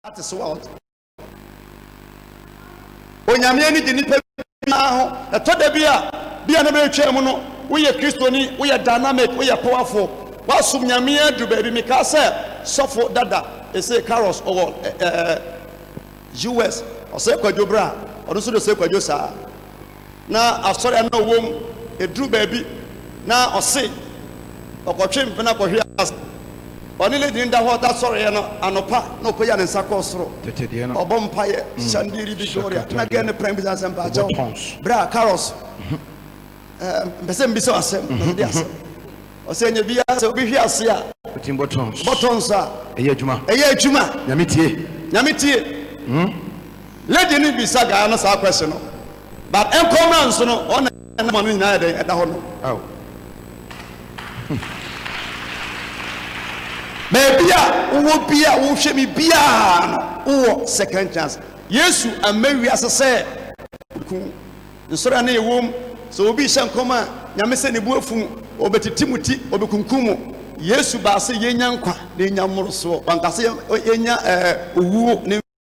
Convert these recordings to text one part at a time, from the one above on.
ate so a ɔte. Onyame ani gye nipa biara ho. Ɛtɔ da bi a, bi a na bɛretwa mu no, woyɛ Kristoni, woyɛ dynamic, woyɛ powerful, woasom Nyame aduru baabi. Mekaa sɛ sɔfo dada, Osei Carlos, ɔwɔ ɛɛ US, Osei Kwadwo Bra, ɔno nso de Osei Kwadwo saa. na asɔre a na ɔwɔ mu, ɛduru baabi na ɔse ɔkɔtwe mpena kɔhwe ase. Ɔne lady no da hɔ da sɔreɛ no, anɔpa na ɔpagya ne nsa kɔɔ soro, ɔbɔ mpaeɛ, Shandiri Victoria, na girl no pran bisa no sɛ, Mpakyɛw, bra, Carlos, mepɛ sɛ mbisa wo asɛm, na ɔde asɛm. Ɔsɛ ɛnyɛ biara sɛ obi hwe ase a, bɔtɔns a, ɛyɛ adwuma, Nyame tie. Lady no bisa guy no saa question no but ɛnkɔ mmra nso no hɔ na number no nyinaa yɛ dɛn ɛda hɔ nom. Aw. Baabi a wowɔ bia wohwɛ me biaa no wowɔ second chance. Yesu amma wiase sɛ ɔku wo. Nsɔre a na yɛwom sɛ obi hyɛ nkɔm a Nyame sɛ ne bo afu mo, ɔbɛtete mo ti, ɔbɛkunkum mo. Yesu baa sɛ yɛnya nkwa na yɛnya mmorosoɔ. Wanka sɛ yɛnya owuo ne.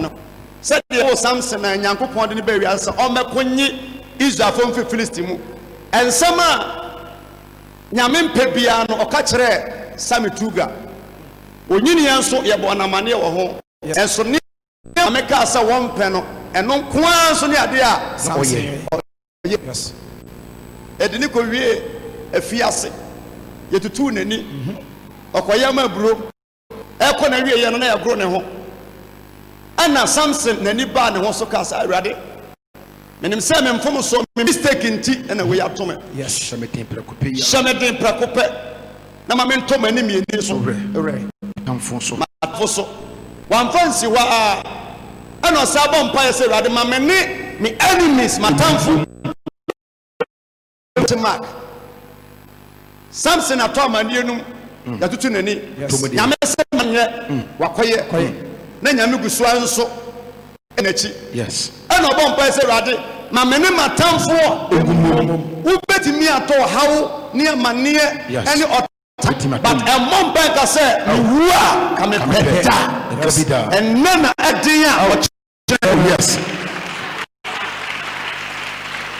no sɛdeɛ ɛwɔ samson a nyankopɔn de no baa wiase sɛ ɔmmɛko nye israelfoɔ mfiri filisti mu ɛnsɛm a nyame mpɛ biara no ɔka kyerɛɛ sami tuga onyiniɛ nso yɛbɔ ɔnamaneɛ wɔ ho ɛnso ne nyame kaa sɛ wɔmpɛ no ɛno nko ara nso ne adeɛ a samson ɔyɛ ɛde ne kɔwie afiase yɛtutuu n'ani ɔkɔyɛ ma aburo ɛrekɔ n'awieeɛ no na yɛagoro ne ho. Ɛna Samson n'ani baa ne ho so kaa sɛ, Awurade, menim sɛ me mfomsoɔ, me mistake nti na wei ato me. Yes, hyɛ me den prɛko pɛ yi ara. Hyɛ me den prɛko pɛ na ma mentɔ m'ani mmieni so. Werɛ m'atamfo so. M'atamfo so. Wamfa nsi hɔ ara ɛna ɔsan bɔ mpaeɛ sɛ, Awurade, ma me ne me enemies, m'atamfo, Kwati mark Samson atɔ amanneɛ no mu mm. yɛatoto n'ani nyame sɛ manyɛ mm. wakɔyɛ mm. na nyame gu soa nso n'akyi ɛna ɔbɔ mpae sɛ awurade ma me ne matamfoɔ wobɛtumi atɔ ɔhaw ne amanneɛ ɛne ɔta but ɛmmɔ mpae ka sɛ mewu a ka mepɛ da ɛnɛ na ɛden a ɔkyɛ hyɛ awi ase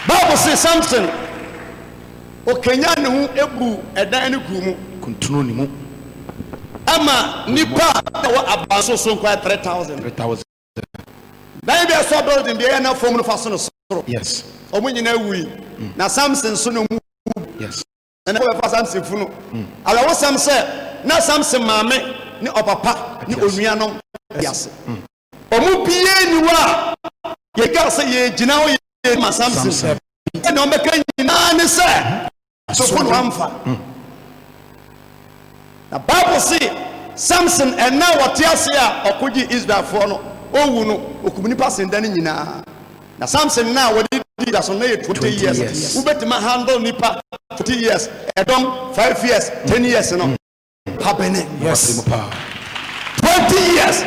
bible se samson ɔkanya ne ho ebu ɛdan no kuru mu kuntunu ne mu ama nipa a ɛwɔ abanso so nkwa 3000 3000 dan bi ɛsɔ building bi ɛyɛ na fam no fa so no soro yes ɔmo nyinaa wui mm. na samson so no mu yes Ɛnna wɔbɛfaa Samson funu. Awerɛhosɛm sɛ, na Samson maame ne ɔpapa ne onuanom te ase. Wɔn mu biara nni hɔ a yɛde kaa sɛ yɛregyina hɔ yɛredi ma Samson. Sɛnea wɔbɛka nyinaa ne sɛ, asoko na wɔamfa. Na Bible se Samson ɛnna a wɔte ase a ɔko gyee Israelfoɔ no, ɔwu no, ɔkum nnipa sen da no nyinaa. Na Samson na wɔde di dwa so na yɛ twenty years wo bɛtumi a handle nipa twenty years ɛdɔm five years ten years no pa bɛnɛ yes twenty years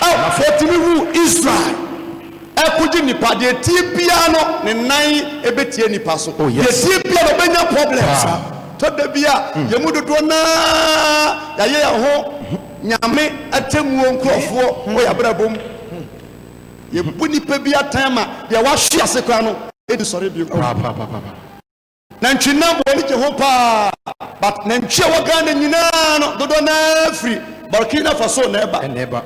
oh wɔtumi wu Israel ɛkogye nipa deɛ tie biara no ne nan ɛbɛtie nipa so oh, deɛ tie biara no ɔbɛnya problems a tɔ da bi a mm. yɛmu dodoɔ naa yɛayɛ yɛn ho nyame atemmuo nkurɔfoɔ wɔ yɛabrabɔ mu Yɛbu nnipa bi atɛn ma deɛ wahwe ase koraa no ɛdi sɔre bio papaapa. Nantwinam wɔ ani gye ho paa but nantwi a ɛwɔ Ghana nyinaa no dodoɔ no ara firi Burkina Faso na ɛba.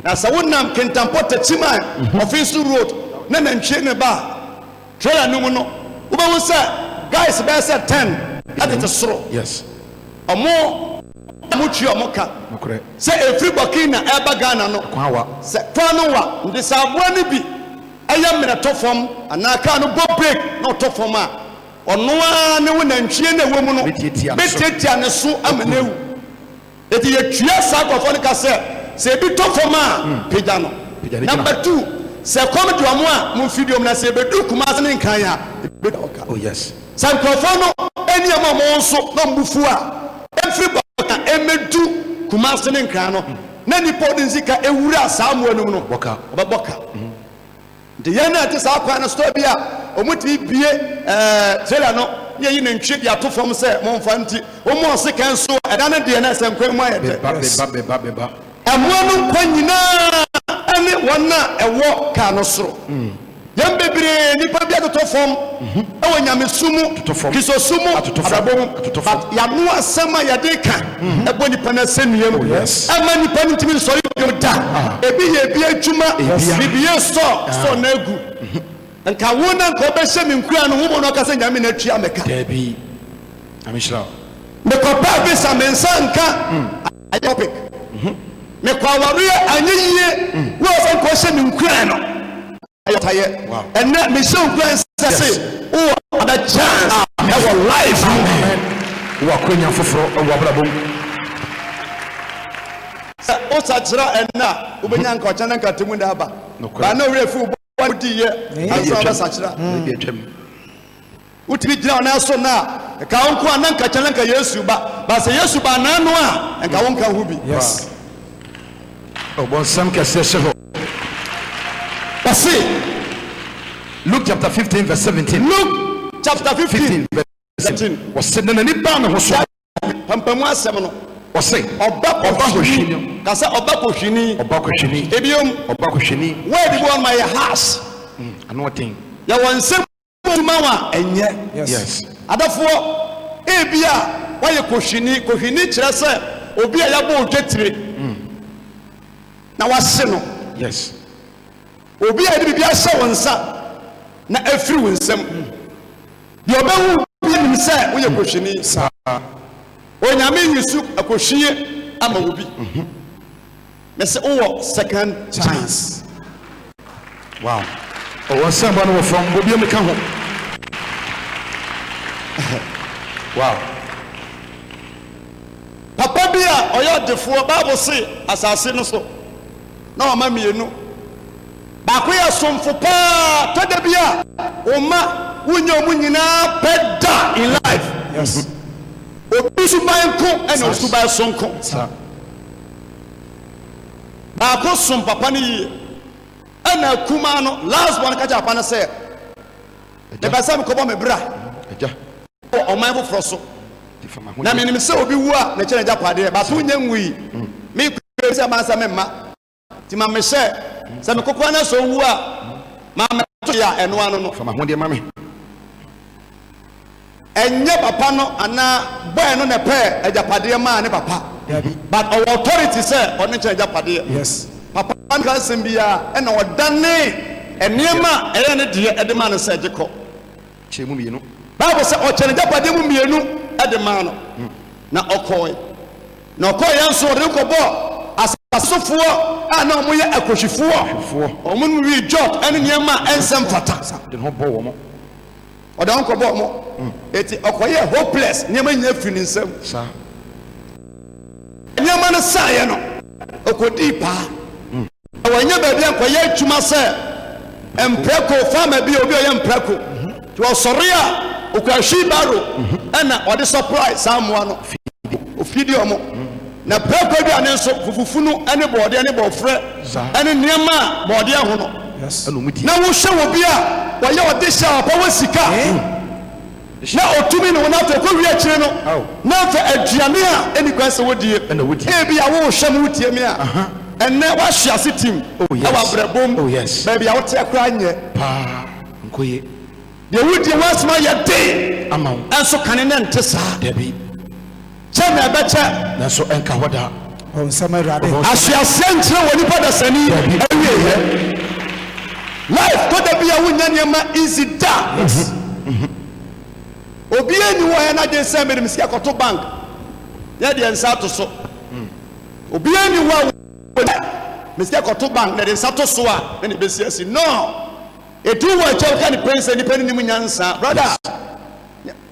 Na sɛ wonam Kintampo Techiman Offinsu road na nantwie no ba a, Trailer no mu no wobɛhu sɛ guys bɛyɛ sɛ ten tete soro ɔmo a ɔmo tua ɔmo ka sɛ efiri Burkina ɛɛba Ghana no sɛ kwan no wa nti sɛ aboa no bi ɛyɛ mmerɛ tɔ fam anaa kaa no bɔ break na ɔtɔ fam a ɔno ara ne wo nantwie no a ɛwɔ mu no bɛtiatia ne so ama no awu. Enti yɛtua saa nkurɔfoɔ no ka sɛ, Sɛ ebi tɔ fam a, pagya no, na fa tu. Sɛ ɛkɔm de wɔn a, mo mfiri dwom, na sɛ yɛbɛduru Kumase ne Nkran a, yɛbɛtua wɔn ka. Sɛ nkurɔfoɔ no anni wɔn a wɔwɔ nso na wɔn bo fu a, ɛmfiri Bɔka mmɛdu Kumase ne Nkran no, na nnipa a wɔde sika awura saa mmoa no mu no, wɔbɛbɔ ka. Nti yɛn na yɛte saa kwan no so ebia wɔtumi bue trailer no na yɛyi nantwie de ato fam sɛ momfa nti wɔma ɔse kɛn nso a ɛda no deɛ na ɛsɛ nkwan mu ayɛ dɛ. Mmoa no nkwa nyinaa ne wɔn a ɛwɔ car no soro. Yɛn bebree nnipa bi atotɔ fam. wɔ nyamesu mu, Kristosom mu, abrabɔ mu, but y'ano asɛm a yɛde ka ɛbɔ nipa no asɛnnua mu, ɛma nipa no ntumi nsɔre bio da, ebi yɛ ebi adwuma, biribi yɛ sɔ sɔ no agu. Nka wo na nka ɔbɛhyɛ me nkuran no, wobɔ no ɔka sɛ Nyame na atua me ka. Dabi. Nyame nhyira wo. Mekɔ pɛɛ visa me nsa nka ayɛ topic. Mekɔ awareɛ anyɛ yie, wo a wobɛkɔ hyɛ me nkuran no. ɔtayɛ ɛnɛ mehyɛ wo guan sɛ se wowɔ ada chance ɛwɔ life mu wowɔ akwanya foforɔ ɛwɔ abrabɔ mu sɛ wosakyera ɛnɛ a wobɛnya nka ɔkyɛ na nka temu na aba ba na ɔwerɛ fi wo bɔ wodiyɛ ansa wobɛsakyera Wotumi gyina wo nan so nnɛ a, nka wo nko a na nka kyɛ na nka Yesu ba. But sɛ Yesu ba anan no a, nka wo nka ho bi. Yes. Ɔbɔnsam kɛseɛ hyɛ hɔ. Ɔse, Luke chapter fifteen verse seventeen. Luke chapter fifteen verse seventeen. Ɔse, na n'ani baa ne ho so. Pampamu asɛm no. Ɔse, ɔba kɔhwini. Kasɛ, ɔba kɔhwini. Ɔba kɔhwini. Ebiom. Ɔba kɔhwini. Word bi wɔ hɔ no ma yɛ harsh. Ano ɔden. Yɛwɔ nsɛm Adwuma wa ɛnyɛ. Yes. Adafoɔ, ebi a wayɛ kohwini. Kohwini kyerɛ sɛ obi a yabɔ odwa tire mm. na wahye no. Yes. Obi a yɛde biribi ahyɛ wo nsa na afiri wo nsam. Mm. Deɛ ɔbɛhu bi anim sɛ woyɛ mm. kohwini. Saa. Onyame yi so akohwie ama wo bi. Mm -hmm. Mese wowɔ second chance. Wow ɔwɔ nsɛm ba no wɔ fam bɔ biom ka ho wow. Papa bi a ɔyɛ ɔdefoɔ bible se asase no so na ɔma mmienu baako yɛ somfo paa tɔda bi a ɔma wonyɛ ɔmo nyinaa pɛ da in life yes obi suban ko ɛna osuban sonko. Baako som papa no yie, ɛna akumaa no, last born no ka kyerɛ papa no sɛ, mepɛ sɛ mekɔbɔ me bra wɔ ɔman foforɔ so, na menim sɛ obi wu a mekyɛ no agyapadeɛ, but wonyɛ nwui, mekɔ sɛ mansa me mma, nti ma mehyɛ sɛ mekokora no sɛ ɔwu a, ma mɛto yɛ a ɛno ano no. Ɛnyɛ papa no anaa boy no na ɛpɛɛ agyapadeɛ maa ne papa but ɔwɔ authority sɛ ɔno nkyɛ agyapadeɛ. Papa no anka asɛm biara ɛna ɔdanee ɛneɛma a ɛyɛ ne deɛ ɛde maa no sɛ gye kɔ kyɛ mu mmienu. Bible sɛ ɔkyɛ n'agyapadeɛ mu mmienu de maa no na ɔkɔɔe. Na ɔkɔɔeɛ nso ɔde no kɔbɔɔ asase sofoɔ a na wɔn yɛ akɔhwifoɔ. Wɔn nom wii jot ɛne nneɛma a ɛnsɛ mfata. Ɔde wɔn kɔbɔɔ mo. Hmm. Eti ɔkɔyɛɛ hopeless, nneɛma nyinaa firi ne nsam. Sa. Nneɛma no saeɛ no, ɔkɔdii paa. Hmm. Na wɔnyɛ baabi a nkɔyɛ adwuma sɛ mprako farmer bi obi ɔyɛ mprako. Hmm. Nti ɔsɔre a ɔkura hwii baro ɛna ɔde supply saa mmoa no. Ofidi ɔmo. Na prako aduane nso, fufufunu ne bɔɔdeɛ ne bɔɔfrɛ ne nneɛma a bɔɔdeɛ ho no, na wohwɛ wɔ bi a wɔyɛ ɔde hyɛ a ɔpɛ wɔ sika na ɔtumi ne wɔn afɛ kɔwie akyire no na afɛ aduane a ɛni kwan sɛ wɔdie ebi a wohwɛ mu wotie me a ɛnɛ woahwe ase tim ɛwɔ abrɛbɔ mu baabi a woteɛ koraa nyɛ paa nkoye deɛ wodie ho asoma yɛ den ɛnso kane ne nte saa Kyɛ na ɛbɛkyɛ. Nanso ɛnka hɔ da. Wɔn nsɛm Awurade. Ahyɛaseɛ nkyerɛ wɔ nipa dasani awieɛ. Life tɔ da bi a wonnya nneɛma easy da. Obiara nni hɔ a ɛyɛ n'adwene sɛ mede me sika kɔto bank na ɛde nsa ato so. Obiara nni hɔ a wɔde me sika kɔto bank na ɛde nsa to so a na ne bɛsi asi. No! Ɛduru hɔ a ɛkyɛ woka ne pɛn sɛ nipa no nim nyansa. Brother!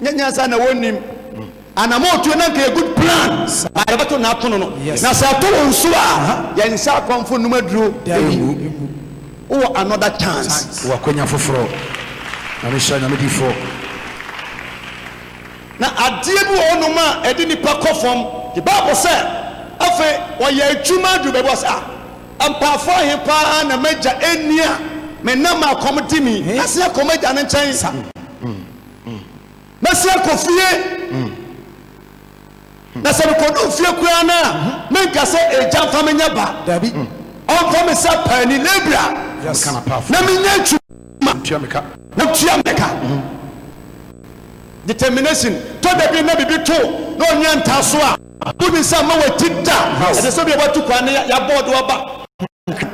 nyɛ nyansa na wɔnnim anamɔtuo na nka good plan a yɛbɛto na ato no no na sɛ ɛto wo nso a yɛn nsa akɔmfo nnum aduro ɛngu wowɔ another chance wɔ akwanya foforɔ nyame hyɛ nyame difoɔ na adeɛ bi wɔ hɔ nom a ɛde nipa kɔ fam the bible sɛ afei wɔyɛ adwuma aduru baabi wɔ sɛ ah Mpaafo ahe paa na m'agya anni a menam ma akɔm de me yi? Mɛsen akɔ m'agya no nkyɛn sa. Mɛsen akɔ fie. Na sɛ mekodu fie koraa no a, menka sɛ, Agya, mfa me nyɛ ba. Dabi. Ɔmfa me sɛ paani, labourer, na menyɛ adwuma na ɔntua me ka. Determination. Tɔ da bi na biribi to na ɔnyɛ ntaaso a. Ato ne nsa mma w'akyi da. Ɛsɛ sɛ obi a watu kwan no yɛ abɔɔ de wo aba hokwan.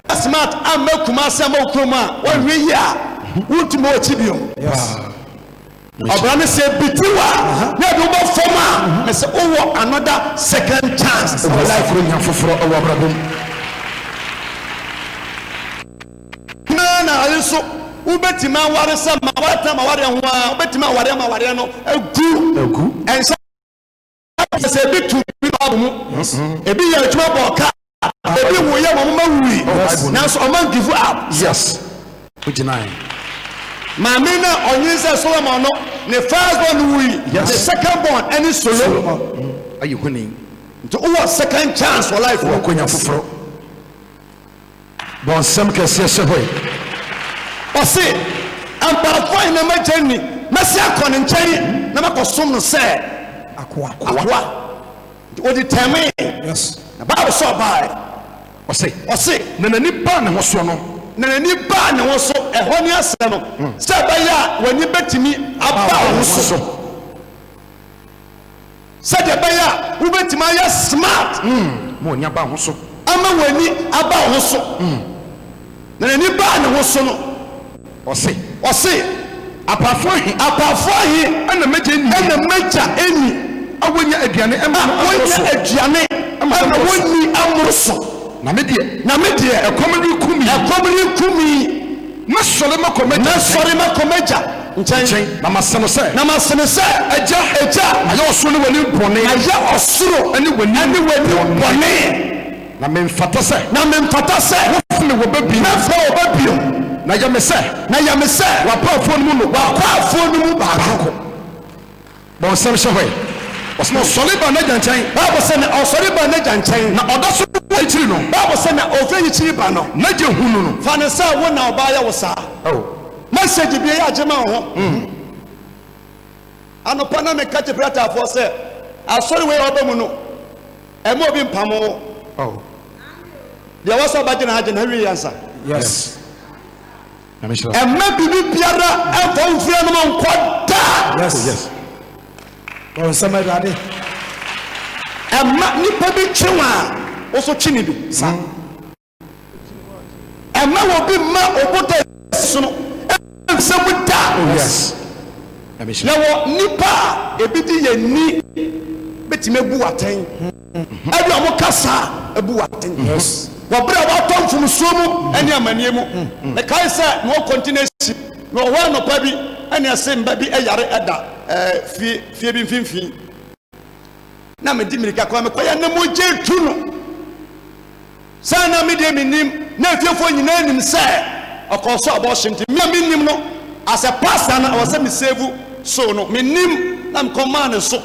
Woyɛ smart amma Kumasi amma wo kurom a, woanhwɛ yie a, wontumi wɔ akyi bio. Ɔbra no sɛ ebiti wo a na ɛde wo ba fam a, mese wowɔ another second chance wɔ life. Ɛwɔ sɛ nya foforɔ wɔ abrabɔ mu. Nyinaa na aye nso wobɛtumi aware sɛ ma woatena ma wareɛ ho a, wobɛtumi awareɛ ma awareɛ no agu. Ɛnhyɛ. te sɛ ebi tu bi na ɔbɔ mu ebi yɛ adwuma bɔ ɔka ebi wo yɛ wɔn ma wui nanso ɔma n give up. yes o gyina yi. maame na ɔnyin sɛ solomon no ne first born wui ne second born ɛne solo ayi huni nti wowɔ second chance wɔ life wɔ konya foforɔ. Bɔ nsɛm kɛseɛ hyɛ hɔ yi. Ɔse, Mpaafo ahe na m'agya nni? Mɛsan akɔ ne nkyɛn na makɔsom no sɛ akoa. Akoa. Nti ɔdi tɛmee. Yes. Na Bible sɛ ɔbaeɛ. Ɔse. Ɔse. Na n'ani baa ne ho so no. Na n'ani baa ne ho so. Ɛhɔ ne asɛm no. Hmm. Sɛ ɛbɛyɛ a w'ani bɛtumi aba wo ho so. Sɛdeɛ ɛbɛyɛ a wobɛtumi ayɛ smart. Ma w'ani aba wo ho so. Ama w'ani aba wo ho so. Na n'ani baa ne ho so no. Ɔse. Ɔse. Apaafoɔ ahe. Apaafoɔ ahe. Na m'agya nni. Na m'agya nni. A wɔnnya aduane mma no mmoro so. A wɔnnya aduane mma no wɔnni mmoro so. Na me deɛ. Na me deɛ. Ɛkɔm reku me. Ɛkɔm reku me. Mɛsɔre makɔ m'agya nkyɛn. Mɛsɔre makɔ m'agya nkyɛn. Nkyɛn, na mase no sɛ. Na mase no sɛ. Agya. Agya. Mayɛ ɔsoro ne w'anim bɔne. Mayɛ ɔsoro. Ne w'anim. Ne w'anim bɔne. Na memfata sɛ. Na memfata sɛ. Wofa me wɔ ba bio. Mɛfa wɔ ba bio. Na yɛ me sɛ. Na yɛ me sɛ. W'akwaafoɔ no mu no. W'akwaafoɔ no mu baako. Bɔ nsɛm hyɛ hɔ ɛ. Ɔse na ɔsɔre baa n'agya nkyɛn. Bible se na ɔsɔre baa n'agya nkyɛn. Na ɔda so wɔ ayikyiri no. Bible se na ɔhwɛ ayikyiri ba no. N'agya hunu no. Fa no sɛ wo na ɔbaayɛ wo saa. Oh. Message bia yɛ agye ma wo ho. Mm. Anopa na meka kye Bratafoɔ sɛ asɔre wei a ɔba mu no ɛma obi mpamo wo. Oh. Deɛ wɔsɛ ɔba gyina ha gyina ha wie yɛnsa. Yes. Nyame nhyira wo. Ɛmma biribi biara ɛmfa wo mfiri anom nkɔ da. Yes yes. Bɔ nsɛm awurade. Ɛmma nipa bi kye wo a wo so kye ne bi sa. Ɛmma wɔ bi mma obota sono ɛmfisɛ mu da. Oh yes. Yɛwɔ nipa a ebi di yɛ ni betumi abu atɛn. Ebia wɔka saa a, ebu wo atɛn. Wɔ bere a woatɔ mfomso mu ne amanneɛ mu. Mekae sɛ na wɔkɔ ntenasi, na wɔ hɔ anɔpa bi na ɛse mma bi yare da fie fie bi mfimfini. Na mede mmirika kɔ, na mekɔe a na mogya retu no saa. Na me deɛ minnim, na afiefoɔ nyinaa nim sɛ ɔkɔɔ so abɔɔhye nti, me a minnim no, asɛ pastor no a ɔwɔ sɛ mesevu so no, minnim, na mekɔmaa no nso.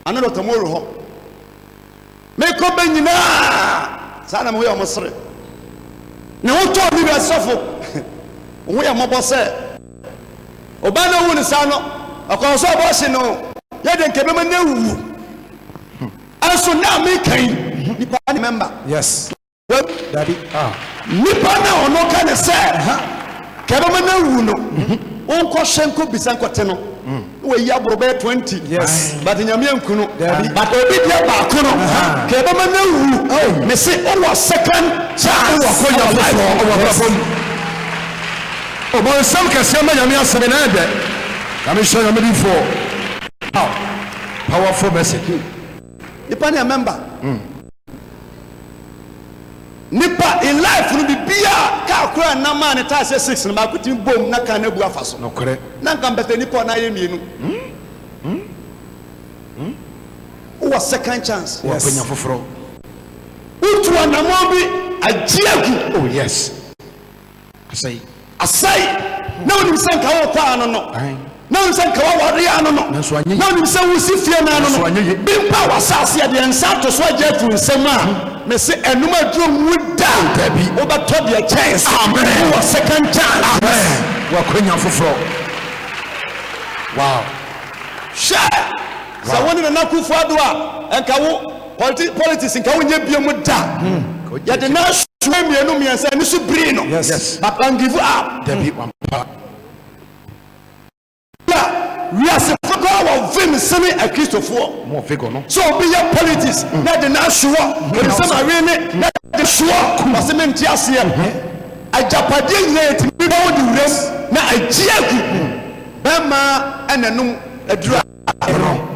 Ana Doctor mo wɔ hɔ? Mekɔ bɛ nyinaa saa na mo ho yɛ mo sere. Ne ho tɔɔ ne wia sɔfo wo ho yɛ mmɔbɔ sɛ ɔbaa no wu ne saa no ɔkɔɔ so ɔbɔ hye no yɛ de nkɛbɛma no awu ɛnso na meka yi nipa ne mɛmba yes Dabi ah. nipa na ɔno ka ne sɛ kɛbɛma no awu no wonkɔhwɛ nkɔ bisa nkɔte no wɔyi aboro bɛyɛ 20 Yes. but nyame anku no Dabi. but obi deɛ baako no kɛbɛma no awu me se wowɔ second chance Wowɔ akɔnya wɔ life foforɔ wɔ abrabɔ mu. Ɔbɔnsam kɛseɛ ma Nyame asɛm na ɛdɛ. Nyame hyɛ Nyame di foɔ. Wow. Powerful message. nipa ne a member Nipa in life no biribiaa car koraa nna maa ne tyres yɛ six no baako tumi bom na car no abu afa so Nokorɛ. na nka mpɛsɛ nipa a ɔnan ayɛ mmienu wowɔ second chance Wɔ yes. panya foforɔ. Wotu anamɔn bi agye agu. Oh yes. Asɛe. Asɛe. Na onim sɛ nka wokɔ ano no. Na onim sɛ nka waware ano no. Na onim sɛ wosi fie no ano no. Bi mpa w'asase a deɛ nsa ato so agye ato nsam a hmm. mese ɛnom aduro nwu da. Dabi. Wobɛtɔ deɛ kyɛn sɛ. Amen. Wowɔ second chance. Amen. Wakwanya foforɔ. Wow. Hwɛ. Sɛ wo ne Nana Akufo-Addo a nka wo Politi politics nka wonyɛ biom da. Mm. Yɛde na suwe mmienu mmiɛnsa ani so biri no. Yes. yes. But wan give up. Dabi mm. wampa. Yeah. Wiase fokoraa wɔ vim sene akristofoɔ. Mo vigor no. So obi yɛ politics mm. na de na suwɔ. Ebi sɛ ma win ne na de suwɔ. Wɔsi mi nti aseɛ. Mm-hmm. Agyapadeɛ nyinaa yɛ ti mi bɔ wo de wuram na agye agu. Mm. Bɛrima ɛna num adura. Ɛno.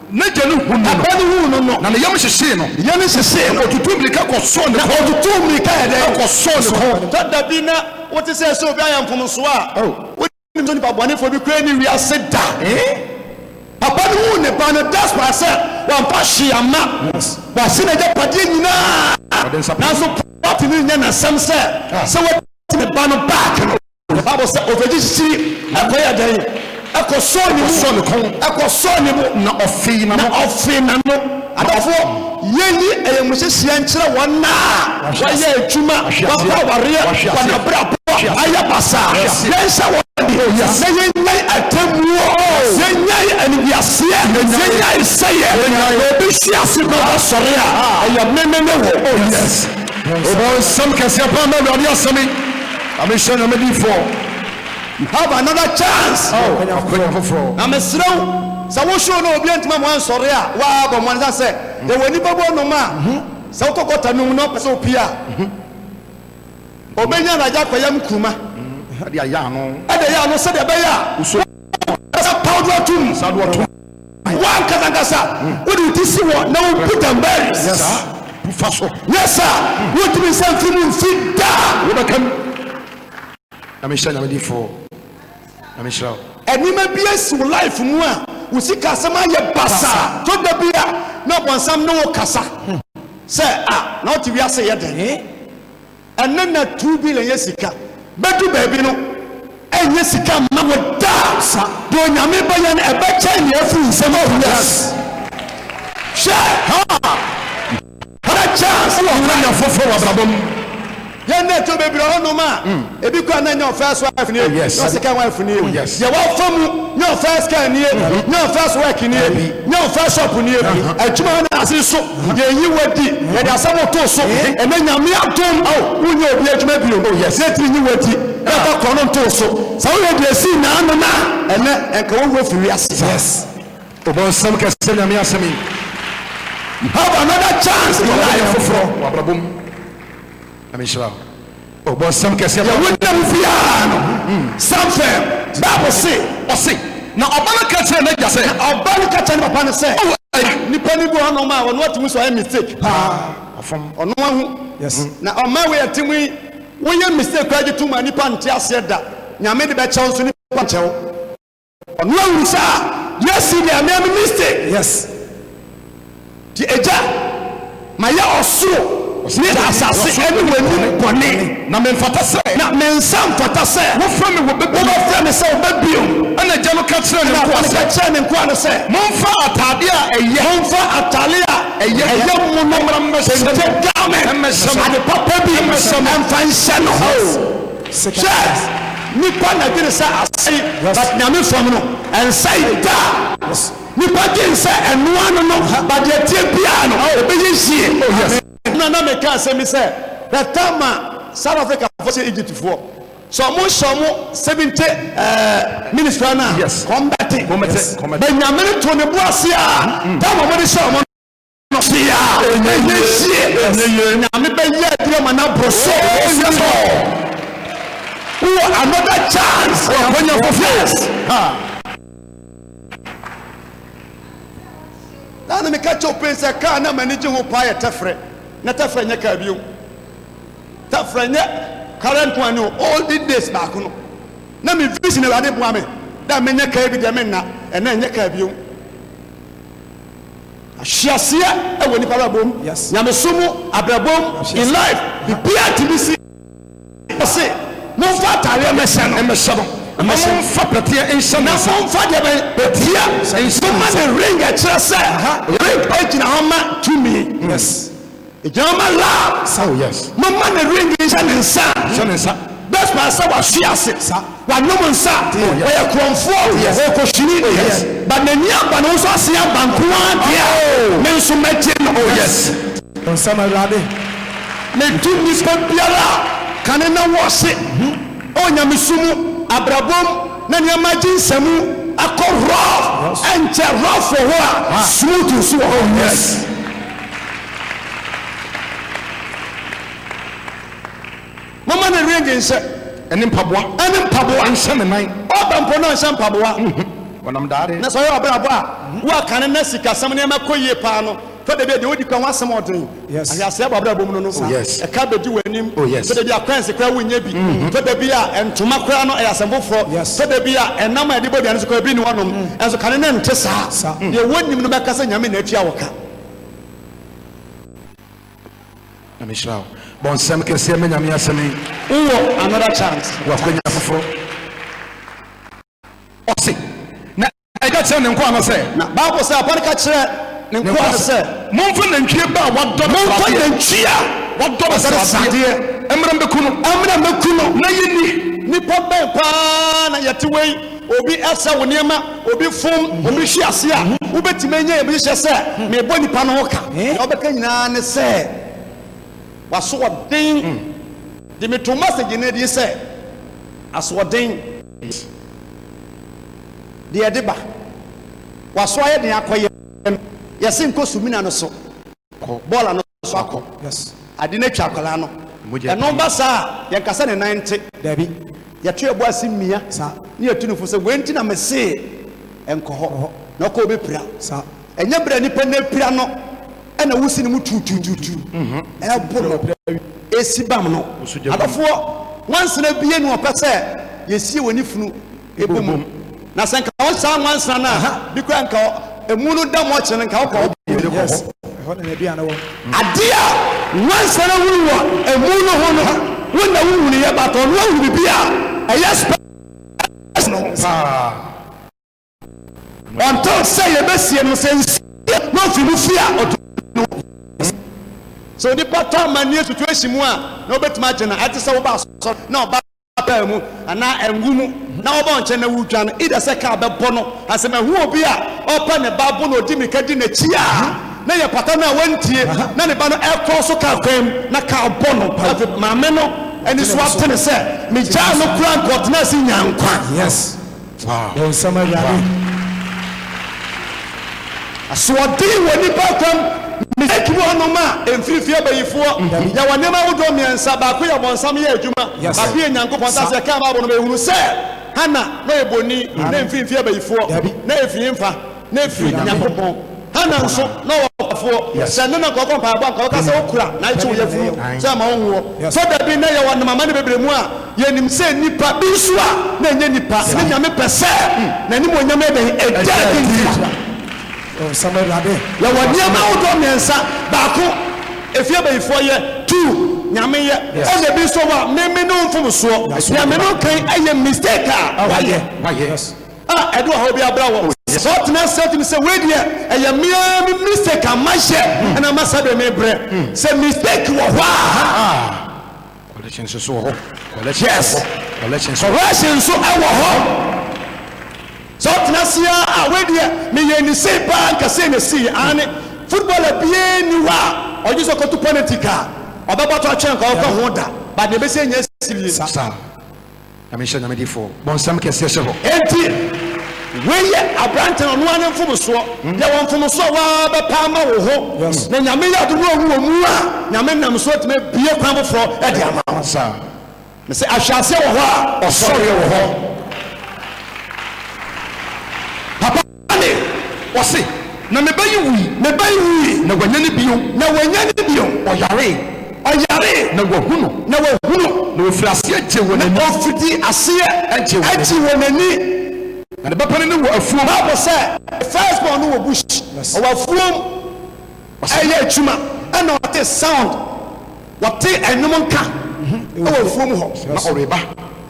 N'agya no hunuu no. Papa no huu no no. Na ne yam hyehyee no. Ne yam hyehyee no. Na ɔtutuu mmirika kɔsɔɔ ne kɔn. Na ɔtutuu mmirika yɛ dɛn? Kɔsɔɔ ne kɔn. Dada bi na wote sɛ sɛ obi ayɛ mfomsoɔ a, wonim sɛ nipa bɔnefoɔ bi koraa nni wiase da. Papa no huu ne ba no, that's why sɛ wamfa hwee amma. Wahye n'agyapadeɛ nyinaa. Nanso papa tumi nyɛ n'asɛm sɛ, sɛ watu ne ba no back no. The Bible sɛ ɔfegye kyikyiri ɛkɔyɛ dɛn? Ɛkɔsɔɔ ne mu. Ɛkɔsɔɔ ne kɔn. Ɛkɔsɔɔ ne bo. Na ɔfee n'ano. Na ɔfee n'ano. Adɔfoɔ, yɛnyi ayamuhyehyeɛ nkyerɛ wɔn a wɔayɛ adwuma, wɔakɔ awareɛ, wɔn abrabɔ ayɛ basaa. Yɛnhyɛ wɔn Oh, yes. Na yɛnyae atemmuo, yɛnyae animguaseɛ, yɛnyae sɛeɛ. Na obi hwe ase na ɔbɛsɔre a, ɛyɛ me ne ne wo. Oh, yes. Ɔbɔnsam kɛseɛ paa ma Awurade asɛm yi. Ma me nhyira na medi fɔ. You have another chance oh, akwanya foforɔ. Na mesrɛ wo sɛ wo show no obi antuma mo ansɔre a waa bɔ mmɔden sɛ yɛwɔ nipa bɔ nom a mhm. sɛ wokɔ gɔta no mu na ɔpɛ sɛ opie a mhm. obɛnya na agya kɔyɛ m kuruma mhm. ɛde yɛ ano sɛdeɛ ɛbɛyɛ a sɛ paw do atom Wo ankasa ankasa wode wo ti si hɔ na wobu Danbaris saa? Fa so. Nyɛ saa a, wontumi nsan mfi mu mfi da. Wobɛka mu. Na mehyɛ Nyame din fo. Na mehyira wo. Nneɛma bi asi wo life mu a wo sikasɛm ayɛ basaa. So da bi a na Ɔbonsam ne wo kasa sɛ ah na wote wiase yɛ den? Ɛnnɛ na two billion yɛ sika. Bɛdu baabi no, ɛnyɛ sika mma wo da. Sa. Deɛ Onyame bɛyɛ no, ɛbɛkyɛn deɛ afiri wo nsam awu. Yes. Hwɛ! Haa! Hara chance wɔ hɔ anya foforɔ wɔ abrabɔ mu. Yɛn na ɛtɔ bebree wɔ hɔ nom a, ebi koraa na ɛnyɛ wɔn first wife nie, Oh, yes. nyɛ wɔn second wife nie, Oh, yes. deɛ wafa mu nyɛ wɔn first car nie, nyɛ wɔn first work nie. Dabi. Nyɛ wo first shop nie adwuma hɔ na ase so yɛ yi wo adi yɛde asɛm to so ɛnɛ nyame adom wo nyɛ obi adwuma bio yɛ tiri nyi wo adi na fa kɔ no nto so sɛ wo yɛ deɛ sii naa no na ɛnɛ ɛnka wo wura firi ase yes obɔ nsɛm kɛse nyame asɛm yi you have another chance in life foforɔ wabrabom. Nyame nhyira wo. Oh bɔ nsɛm kɛseɛ ma. Yɛ wonam fie aa no san fɛm bible se. Ɔse na ɔba no ka kyerɛɛ n'agya sɛ. Na ɔba no ka kyerɛɛ ne papa no sɛ. Oh aya. Nipa no bi hɔ nom a ɔno atumi so ayɛ mistake paa ɔfom. Ɔno ahu yes na ɔma wei atumi woyɛ mistake koraa gye tom a nipa nte aseɛ da Nyame de bɛkyɛw nso nipa nkyɛw. Ɔno awuru saa yɛsi ne amea me mistake. Yes. Ti agya ma yɛ ɔsoro ne asase ɛne w'anim bɔne. Na me mfata sɛ. Na me nsa mfata sɛ. Wofrɛ me wɔ bɛ bio. Wobɛ frɛ me sɛ wɔ bɛ bio. Ɛna agya no ka kyerɛ ne nkoa sɛ. Ɛna agya no ka kyerɛ ne nkoa no sɛ. Monfa atade a ɛyɛ. Monfa atade a ɛyɛ. Ɛyɛ mu no. Ɛmra mmɛhyɛ no. Kente garment. Ɛmɛhyɛ no. Ade papa bi. Ɛmɛhyɛ no. Ɛmfa nhyɛ no. Yes. Scarce, Nnipa na dwene sɛ asɛe but Nyame fam no ɛnsɛe da a. Nnipa dwene sɛ ɛnoa no no but deɛ ɛteɛ biara no ɛbɛyɛ yie. Ɛna na meka asɛm bi sɛ the time a South Africa foɔ sɛ Egypt foɔ sɛ ɔmo hyɛ ɔmo 70 minutes koraa no a wɔn bɛte but Nyame no too ne bo ase a time a ɔmo de hyɛ ɔmo no. Ɔseɛ a ɛnyɛ yie. Nyame bɛyɛ adi ama no aboro so. Wowɔ another chance. Wakwanya foforɔ. na meka kyɛw pɛn sɛ kaa na m'ani gye ho paa yɛ tɛfrɛ na tɛfrɛ nyɛ kaa bio tɛfrɛ nyɛ kara nko ani o all the days baako no na me vision awurade boa me dɛ menyɛ kaa bi deɛ menna ɛnɛ nyɛ kaa bio Ahyeaseɛ wɔ nipa abrabɔ mu, nyamesom mu, abrabɔ mu, in life, biribiara ntumi si. Ɔse monfa ataareɛ mmɛhyɛ no, mmɛhyɛ no, na monfa pɛteɛ nhyɛ ne nsa. Na monfa deɛ bɛn? Pɛteɛ nhyɛ ne nsa. Momma no ring ɛkyerɛ sɛ, ring gyina hɔ ma tumi. Yes. Gyaa ma love. Sa o yes. Ma ma ne ring nhyɛ ne nsa. Hyɛ ne nsa. Best pa sɛ wa hwe ase. Sa. Wa nom nsa. Te o yes. Ɔyɛ korɔmfoɔ. O yes. Ɔkɔ hyini deɛ. O yes. But n'ani aba no nso ase aba nkoa deɛ a. Oh. Me nso mɛ gye no. O yes. Wɔn nsɛm awurade. Ne tu nispa biara a kane na wɔ se. O nyamesu mu, abrabɔ mu, na nneɛma agye nsɛmu akɔ rough. Ɛnkyɛ rough wɔ hɔ a smooth nso wɔ hɔ. O yes. Momma ne werɛ nnye nhyɛ. Ne mpaboa. Ne mpaboa. Nhyɛ ne nan. Ɔba mpo na ɔnhyɛ mpaboa. Ɔnam daade. Na sɛ ɔyɛ ɔbrabɔ a, woakane na sikasɛm nneɛma kɔ yie paa no, fa da bi a deɛ odi kan ho asɛm a ɔden, ahweaseɛ bɔ abrabɔ mu no no, ɛka bɛdi w'anim. Fa da bi a kɔɛnse koraa wonnya bi. Fa da bi a ntoma koraa no ɛyɛ asɛm foforɔ. Fa da bi a ɛnam a yɛde bɔ aduane nso koraa bi nni hɔnom. Nanso kane no nte saa. Deɛ wonim no bɛka sɛ Nyame na atua wo ka. Nyame nhyira wo. Bɔ nsɛm kɛseɛ ma Nyame asɛm yi. Wowɔ another chance. Wakwanya foforɔ. Ɔse, na ɛka kyerɛ ne nkoa no sɛ. Na Bible sɛ apa no ka kyerɛ ne nkoa no sɛ. Momfa nantwie ba a wadɔ no sradeɛ. Momfa nantwie a wadɔ no sradeɛ. Mmra mmɛku no. Mmra mmɛku no. Na yɛnni. Nipa bɛn paa na yɛte wei. Obi sɛ wo nneɛma, obi fom, obi hwe ase a, wobɛtumi anya abusuhyɛ sɛ, Merebɔ nnipa no ho ka. Nea wobɛka nyinaa ne sɛ, W'asoɔden de me to mɛsegye no adie sɛ, Asoɔden deɛ ɛde ba. W'aso ayɛ den akɔyɛ no, yɛse nkɔ Sumina no so, Bɔɔla no so. so akɔ ade no atwa akwadaa no ɛno ba saa a yɛn kasa ne nan nte dabi yɛto yɛbo ase mmia saa ne yɛtu no fo sɛ wei nti na mesee ɛnkɔ hɔ na ɔkɔ ɔbɛpira saa ɛnyɛ berɛ nipa na apira no ɛna wosi ne mu tutututu ɛbo no ɛsi bam no adɔfoɔ nwansena bie no ɔpɛ sɛ yɛsie wɔ ne funu bɔ mu. Na sɛ nka wɔ saa nwansa no a, bi kora nka emu no da mu ɔkyerɛ no nka wokɔ hɔ bɔ mu kɔ hɔ. Ade a nwansa no hunu wɔ emu no ho no, wo na wohunu yɛ bata ɔno ahu biribi a ɛyɛ spɛs no ho paa. Ɔntɔ sɛ yɛbɛsie no sɛ nsuo na ɔfiri mu fie a ɔtɔ no. Sɛ onipa tɔ amanneɛ situation mu a na wobɛtumi agye no, ɛte sɛ woba asɔre na ɔba baa mu anaa angu mu na wɔba wo nkyɛn na woredwan, either sɛ kaa bɛbɔ no anaa sɛ mahu obi a ɔrepɛ ne ba bo na ɔdi mmirika di n'akyi a, na ɛyɛ pata no a wantie na ne ba no rekɔ so kaa kwan mu na kaa bɔ no. Na afei maame no ani so atene sɛ megyaa no koraa a anka ɔtenaa ase nyaa nkwa. Bonsam awurade asoɔden wɔ nipa akwam mistake mu hɔnom a ɛmfiri fie bayifoɔ yɛwɔ nneɛma ahodoɔ mmiɛnsa baako yɛ bonsam yɛ adwuma baako yɛ nyankopɔn ta sɛ yɛkaa bible no bɛhunu sɛ Hannah na ɔyɛ boni na ɛmfiri fie bayifoɔ na ɛfiri mfa na ɛfiri Nyankopɔn. Hana nso, na ɔwɔ ɔkwafoɔ. Sɛ ɛnnɛ na nka ɔkɔ mpaeɛbɔ a, nka ɔka sɛ ɔkura na ɛkye wo yafunu sɛ ɛmma wo nwoɔ. Sɛ da bi na yɛwɔ amane bebree mu a, yɛnim sɛ nnipa, bi nso a na ɛnyɛ nnipa, ne Nyame pɛ sɛ N'animuonyam yɛ dɛn? Ɛda adi ntra. Yɛwɔ nneɛma ahodoɔ mmiɛnsa, baako, efie bayifoɔ yɛ, two, Nyame yɛ, ɛna ebi nso wɔ a, me me ne wo mfomsoɔ, deɛ me ne wo kan yɛ mistake a wayɛ. a ɛde ɔhaw bi abra wɔn. Sɛ ɔtena ase atumi sɛ wei deɛ ɛyɛ me ara me mistake a mayɛ ɛna ama sɛdeɛ mebrɛ sɛ mistake wɔ hɔ a Collection nso so wɔ hɔ. Collection nso Yes. wɔ hɔ. Collection nso wɔ hɔ. correction nso ɛwɔ hɔ sɛ ɔtena ase a a wei deɛ meyɛ ne sei paa nka sei na ɛsii aane footballer biara nni hɔ a ɔgye sɛ ɔkɔto penalty ka a ɔbɛbɔtɔ atwɛn nka ɔkɔ ho da but deɛ ɛbɛsi nyɛ asie Saa. Nyame nhyira Nyame difoɔ. Bɔnsam kɛseɛ hyɛ hɔ. Enti wei yɛ aberantɛ no ɔno ara ne mfomsoɔ, deɛ wɔ mfomsoɔ a woaa bɛpɛ ama wo ho, na Nyame yɛ adom na ɔhu wɔ mu a, Nyame nam so atumi abue kwan foforɔ de ama wo. Mese ahwe aseɛ wɔ hɔ a ɔsɔreɛ wɔ hɔ. Papa. Aane, ɔse, na me ba yi wui. Me ba yi wui, na wanyane bio. Na wanyane bio. Ɔyaree, ɔyaree. Na wahu no. Na wahu no. Na ɔfirii aseɛ gyee wɔn ani. Na ɔfirii aseɛ gyee wɔn ani. Na ne ba panin no wɔ afuom. Bible sɛ, the first born no wɔ bush, ɔwɔ afuom, ɛreyɛ adwuma, ɛna ɔte sound, ɔte ɛnwom nka wɔ afuom hɔ. Na ɔreba.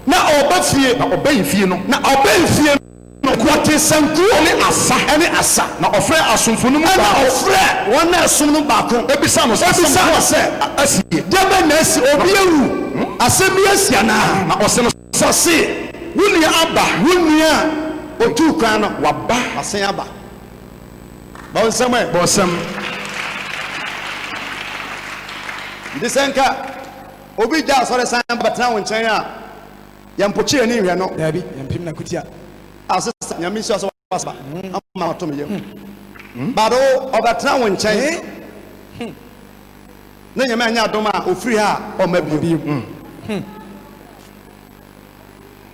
Na ɔreba fie. Na ɔbɛn fie no. Na ɔbɛn fie no. Na ɔtee sanku. Ɛne asa. Ɛne asa. Na ɔfrɛɛ asomfo no mu baako. Ɛna ɔfrɛɛ wɔn a ɛsom no baako. Bisaa no sɛ, Asɛm ko a asi nie. Deɛ bɛn na asi? Obi awu? Asɛm bi asi anaa? Na ɔse no. Sa se, Wo nua aba. Wo nua a ɔtuu kwan no. Waba. Wasen aba. Bɔ nsɛm ɛ. Bɔ nsɛm. Nti sɛ nka obi gya asɔre san bɛtena wo nkyɛn a. Yɛn mpokyere ani nhwɛ no. Daabi, yɛn mpem na kutia. Ah sista, Nyame nhyira sɛ w'asaba ama mato me yam. But o, ɔbɛtena wo nkyɛn. Ne Nyame anyɛ adom a, ofiri ha a, ɔmma bio.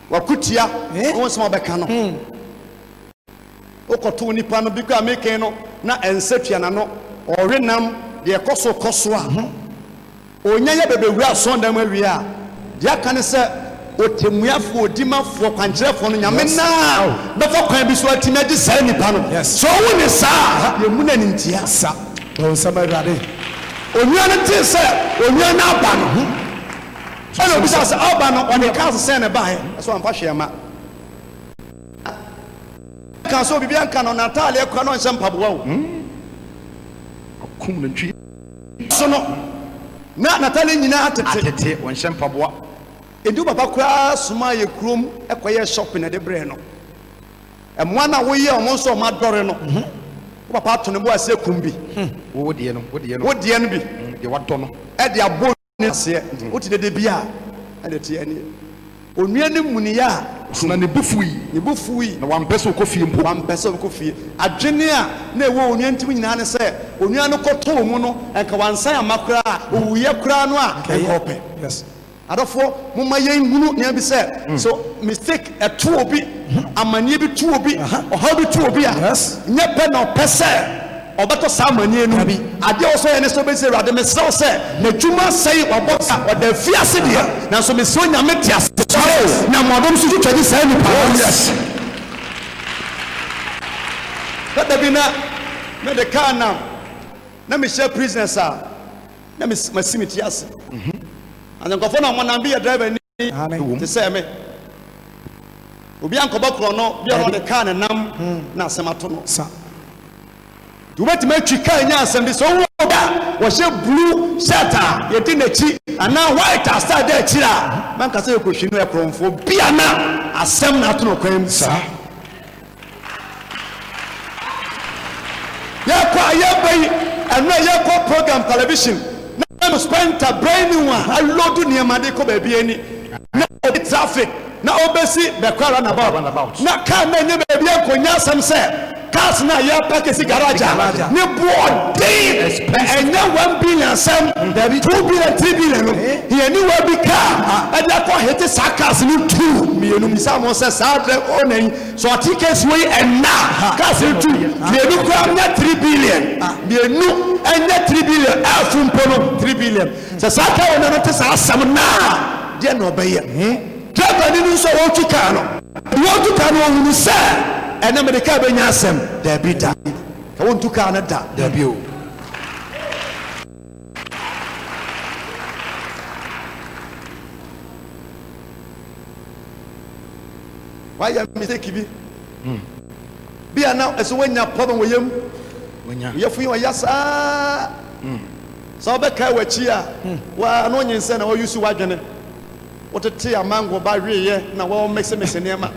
Wakutia wo nsɛm a wobɛka no. Wokɔto wo nipa no, bi koraa mekɛn no na ɛnsɛ tua n'ano. Ɔwe nam deɛ ɛkɔ so kɔ so a. Onya yɛ bɛbɛwura asɔrdan mu awie a, deɛ aka ne sɛ ɔtɛmmuafoɔ, odimafoɔ, kwankyerɛfoɔ no Nyame no ara bɛfa kwan bi so atumi agye saa nipa no. Sɛ ɔwu ne saa a, yɛmmu no animtia. Sa, Bɔ nsɛm Awurade. Onua no tee sɛ onua no aba no, ɛna ɔbisaa sɛ, Ɔba no, ɔde cars sɛn na ɛbaeɛ? Ɛsɛ wamfa hwee amma. Ɔkaa sɛ, Obibiara nka no, n'atadeɛ koraa na ɔnhyɛ mpaboa o. Ɔkum nantwie. So no na n'atade nyinaa tete? Atete, ɔnhyɛ mpaboa. Edu papa koraa somaa yɛ kurom kɔyɛɛ shopping de brɛɛ no. Mmoa no a woyɛɛ wɔn nso a wɔadɔre no, wo papa ato ne bo ase akum bi. Wo deɛ no, wo deɛ no. Wo deɛ no bi. Deɛ wadɔ no. De abɔ. ne aseɛ mm. wote dede bi a ɛde teɛ ne onua ne mmuniɛ a so na ne bo fui ne bo fui na wampɛ sɛ ɔkɔ fie mpo wampɛ sɛ ɔkɔ fie adwene a na ɛwɔ onua ntim nyinaa ne sɛ onua no kɔtɔɔ mu no ɛnka wansan ama koraa owuyɛ koraa no a ɛnka ɔpɛ yes adɔfoɔ momma yɛn hunu nea bi sɛ mm. so mistake ɛto obi mm-hmm. amanneɛ bi to obi ɔhaw bi to obi a nyɛ pɛ na ɔpɛ sɛ Ɔbɛtɔ saa amanneɛ no bi. Adeɛ a ɔwɔ sɛ ɔyɛ ne sɛ ɔbɛsi Awurade, Mesrɛ wo sɛ n'adwuma asɛe, wabɔ ka, ɔda afiase deɛ, nanso mesrɛ Onyame te ase. Sɔre na mmoadom so twitwa di saa nnipa no ase. Dada bi na me de car nam, na me hyia prisoners a na me si me ti ase. As in nkurɔfoɔ na wɔnam bi yɛ driver ni. Aane. Wom. Te sɛ me. Obi ankɔbɔ korɔno bi a na ɔde kaa ne nam na asɛm ato no. Sa. Nti wobɛtumi atwi kaa nya asɛm bi. Sɛ wohu obi a ɔhyɛ blue shirt a yɛdi n'akyi anaa white a star da akyiri a, mɛnka sɛ yɛkɔhwi no yɛ korɔmfoɔ bi a na asɛm na ato no kwan mu. Sa. Yɛkɔ a yɛba yi ɛno a yɛkɔ program television na no spend a brain ne ho a aload nneɛma de kɔ baabi ani na obi traffic na obesi bɛkɔ ara na about na car na nye baabi ɛnkɔ nye asɛm sɛ cars na yɛ park si garage a ne boɔ den na ɛnyɛ one billion asɛm two billion three billion no yɛni wa bi car ɛde akɔ hete saa cars no two mmienu misa mo sɛ saa dɛ ɔna yi So ɔte case wei ɛnna a cars etu mmienu koraa nyɛ three billion mmienu ɛnyɛ three billion ɛfu mpo no three billion sɛ saa car owner no te saa asɛm naa deɛ na ɔbɛyɛ driver ni no nso a ɔretu car no ɔretu car no ɔhunu sɛ ɛnna mede car bɛnya asɛm daabi da ka wɔntu car no da daabi o. Wayɛ mistake bi. Bi a na ɛsɛ wanya problem wɔ yam. Wo yɛfo yi ɔya saa. Sɛ wobɛkae w'akyi a, wo ara na onyinsɛn na ɔuse w'adwene. Wotete a mango ba weeɛ na wɔmixemix nneɛma.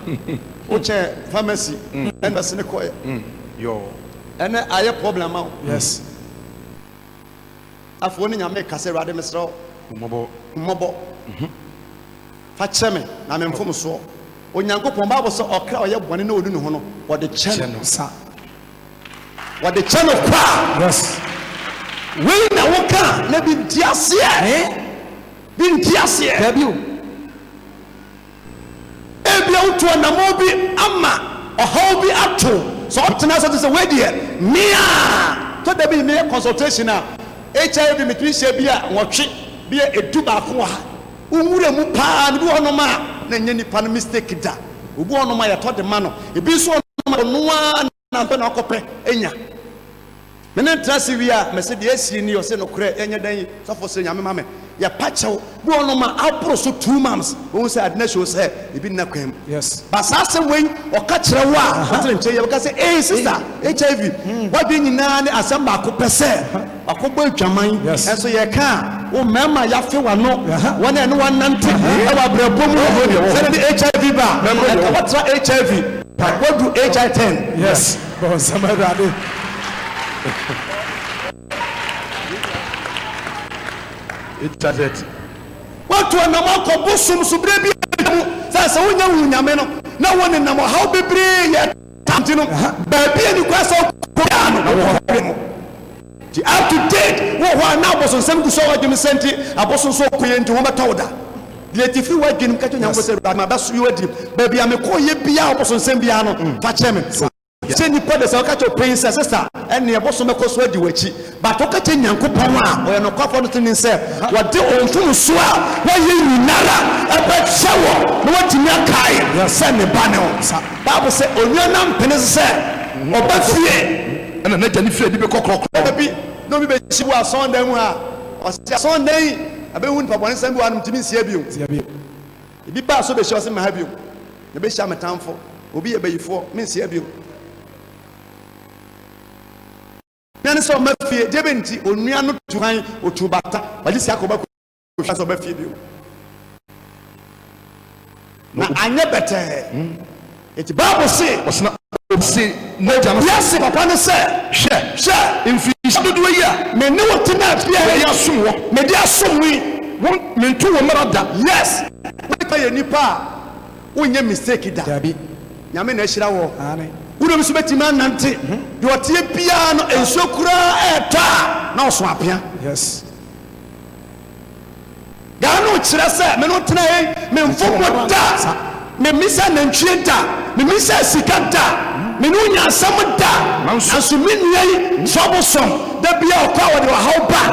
Wokyɛɛ pharmacy na nurse no kɔeɛ. Ɛnnɛ ayɛ problem ama wo. Afei wo ne Nyame rekasa, Awurade mesrɛ wo hu me mmɔbɔ. Fa kyɛ me, na me mfomsoɔ. Onyankopɔn, Bible sɛ ɔkra a ɔyɛ bɔne na ɔnu ne ho no, wɔde kyɛ no sa. Wɔde kyɛ no kwa. Yes. Wei na woka na bi nti aseɛ. Eh? Bi nti aseɛ. Dabi o. Ebia wotu anamɔ bi ama ɔhaw bi ato sɛ ɔtena sɛ te sɛ wei deɛ mea tɔ da bi meyɛ consultation a HIV metumi hyɛ bi a nwɔtwe bi a edu baako wɔ ha. Wo nwura mu paa no bi wɔ hɔ nom a na ɛnyɛ nipa no mistake da obi wɔ hɔ nom a yɛtɔ de ma no ebi nso wɔ hɔ nom a ɔno ara na ɔpɛ na ɔkɔ pɛ nya me ne ntra se wie a mɛse deɛ asie ni ɔse nokorɛ yɛnyɛ dɛn sɔfo se nyame ma me yɛ pa kyɛw bi wɔ hɔ nom a aboro so two moms wohu sɛ ade na show sɛ ebi nna kwan mu yes ba saa asɛm wei ɔka kyerɛ wo a ɔtere nkyɛn yɛ bɛka sɛ ee sister HIV wadwe nyinaa ne asɛm baako pɛ sɛ Wakɔbɔ adwaman nso yɛka a, wo mmarima yɛafe w'ano, wɔn a ɛne wo anante wɔ abrabɔ mu no, sɛ ɛde HIV ba a, ɛka woatra HIV, woadu HI ten. Yes, bɔ nsɛm Awurade. Internet. Woatu anam akɔ bosom so berɛ bi a atwam, sɛ sɛ wonyɛ nhuu Nyame no na wonenam ɔhaw bebree yɛ. Tanti no, baabi a nnipa sɔre kɔ biara no, na wɔwɔ hɔ wɛn mo. Nti up to date, wowɔ hɔ a na abosonsɛm gu so a w'adwenem sɛ nti, abosonsom a wokoeɛ nti wɔbɛtɔ wo da. Deɛ nti, firi w'adwenem ka kyerɛ Onyankopɔn sɛ, Awurade, mabɛso yi w'adi. Baabi a mekɔeɛ biara, abosonsɛm biara no, fa kyɛ me. Sɛ nnipa de, sɛ wɔka kyerɛ wo panyin sɛ, Sista, ɛnneɛ bosom bɛkɔ so adi w'akyi. But wo ka kyerɛ Nyankopɔn a ɔyɛ nokwafoɔ no tenenee sɛ wɔde wo mfomsoɔ a woayɛ nyinara bɛkyɛ wo na woatumi akae sɛ ne ba ne wo nsa. Bible sɛ onua no ampene so sɛ ɔba fie na n'agya no fie adi bɛkɔ krɔkrɔ. Da bi na obi bɛhyia wɔ asɔɔdan mu ha a ɔse asɔɔdan yi abɛhu nipa bɔne sɛm bi wɔ ha no mentumi nsia bio. Ebi baa so bɛhyia ɔse mma ha bio na bɛhyia me tamfo obi yɛ bayifoɔ mensia bio. Hia ne sɛ ɔma fie, gye bɛ nti onua no tu han, otu bata, ɔgye sika kɔba kɔ hwɛ sɛ ɔba fie bio. Na anyɛ bɛtɛɛ. Eti Bible se. Ɔsena obi se n'agya no. Yɛse papa no sɛ. Hwɛ. Hwɛ. Mfirihyia dodoɔ yi a. Me ne wo tenaa fie ha yi. Mede asom wɔ. Mede asom wo yi. Wo mento wo mmara da. Yes. Woyɛ nipa a wonyɛ mistake da. Dabi. Nyame na ahyira wo. Wodɔ bi so bɛtumi anante deɛ ɔteɛ biara no nsuo koraa ɛɛtɔ a na ɔso apea. Gaa no kyerɛ sɛ me no tena hei me mfobo da me misa nantwie da me misa sika da me no nya asɛm da nanso me nua yi troublesome da bia ɔkɔ a wɔde ɔhaw ba.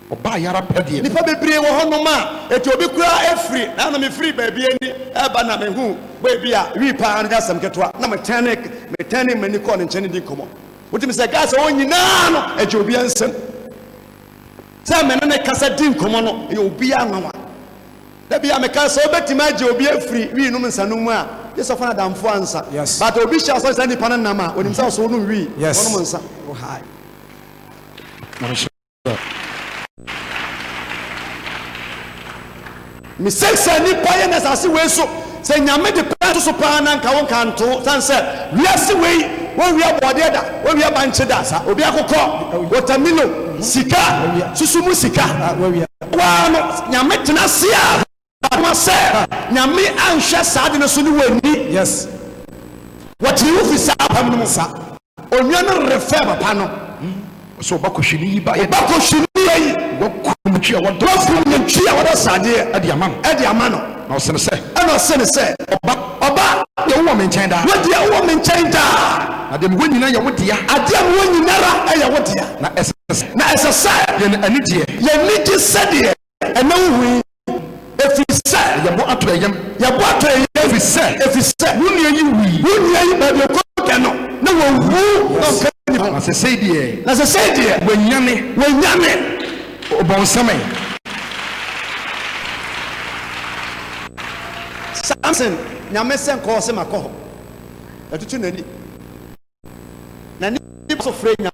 Ɔbaeɛ ara pɛ deɛ nnipa bebree wɔ hɔnom a ɛti obi koraa afiri. Nana mefiri baabi ani reba na mehuu bɔy bi a wii pa ara no nyɛ asɛm ketewa na metɛɛnee m'ani kɔɔ ne nkyɛn ne dii nkɔmmɔ. Wotumi sɛ guys a wɔn nyinaa no ɛgye obiara nsam sɛ me ne ne kasa di nkɔmmɔ no ɛyɛ obiara nwanwa. Da bi a meka sɛ wobɛtumi agye obi afiri wii nom nsanom mu a gye sɛ ɔfa no adamfoɔ ansa but obi hyɛ asɔ saa nipa no nam a onim sɛ ɔsɛ wonom wii ɔnom nsa. Me sense sɛ nipa yɛ na asase wei so sɛ nyame de pɛ to so paa na nka wo nka nto san sɛ wiase wei wɔn wia bɔɔdeɛ da wɔn wia bankye da sa obi akokɔ wɔtamilo sika susu mu sika waa no nyame tena se a Ama sɛ Nyame anhwɛ saa ade no so ne w'ani. Yes. Wɔkyere wo fi saa apam no mu. Sa. Onua no refɛ papa no. Hmm. Ɔsɛ ɔba kɔhwi ne yi ba yɛ. Ɔba kɔhwi ne yɛ yi. Wakum nantwi a wɔdɔ. Wakum nantwi a wɔdɔ sradeɛ. Ɛde ama no. Ɛde ama no. Na ɔsɛ no sɛ. Ɛna ɔsɛ no sɛ. Ɔba. Ɔba. Deɛ wowɔ me nkyɛn daa. Wo deɛ wowɔ me nkyɛn daa. Na deɛ mewɔ nyina yɛ wo dea. Adeɛ mewɔ nyinara ɛyɛ wo dea. Na ɛsɛ sɛ. Na ɛsɛ sɛ. Yɛn anigyeɛ. Yɛn anigye sɛdeɛ. Ɛnnɛ wohu yi, ɛfiri sɛ. Yɛbɔ atɔeɛ yam. Yɛbɔ atɔeɛ yam. Ɛfiri sɛ. Ɛfiri sɛ. Wo nua yi wui. Wo nua yi baabi ɔkɔ da no, na wawu. Na ɔmpɛ nnipa ho. Na sesei deɛ. Na sesei deɛ. Wanyane. Wanyane. Ɔbɔnsam ɛ. Samson nyame sɛ nkɔɔ se makɔ hɔ. Atutu n'ani. N'ani so frɛ nyame.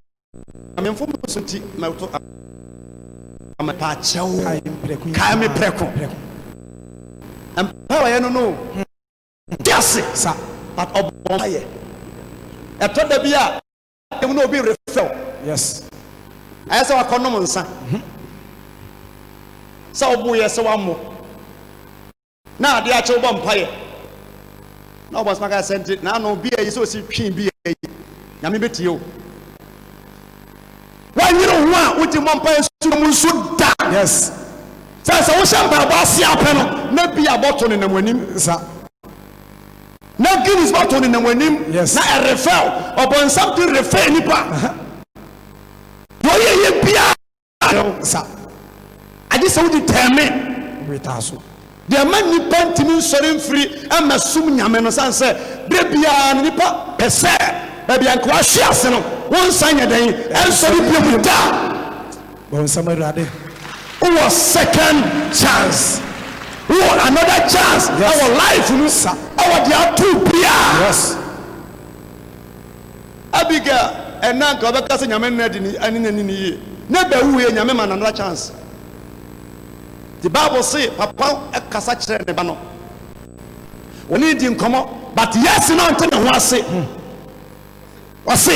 Kae me mfomso nti mɛto a. Mepɛ akyɛw. Kae me prɛko. Mpae a wɔyɛ no no te ase sa but ɔbɔ mpaeɛ. Ɛtɔ da bi a ɛmu na obi refrɛ wo. Yes. Ayɛ sɛ wakɔnom nsa. Sɛ woboeɛ sɛ wammɔ. Na ade akye wobɔ mpaeɛ na ɔbɔ nsoma ka sɛ nti na ano bia yi sɛ ɔsi twe bia yi nyame bɛtie o wanyere ho a wogye mmɔ mpaeɛ nsuo mu nso da yes sɛ sɛ wohyɛ mpaebɔ ase apɛ no na bi abɔto ne nam anim sa na guinness bɔto ne nam anim yes na ɛrefɛw ɔbɔnsam de refɛ nipa deɛ ɔyɛ yɛ biara Ayɛw sa, agye sɛ wode tɛme wetaa so. Deɛ ɛma nnipa ntumi nsɔre mfiri mmɛsom Nyame no, sane sɛ berɛ biara no nnipa pɛ sɛ baabi a nka wɔahwe ase no, wɔnsan nyɛ dɛn? Ɛnsɔre bio da! Bɔ nsɛm Awurade. Wowɔ second chance. Wowɔ another chance wɔ life mu wɔ deɛ ato wo biara. Abigail ɛna nka ɔbɛka sɛ nyame nna dini ɛne nya nini yie ne ba wuiɛ nyame ma no another chance nti bible se papa ɛkasa kyerɛ ne ba no wɔne di nkɔmɔ but yes na ɔnte ne ho ase ɔse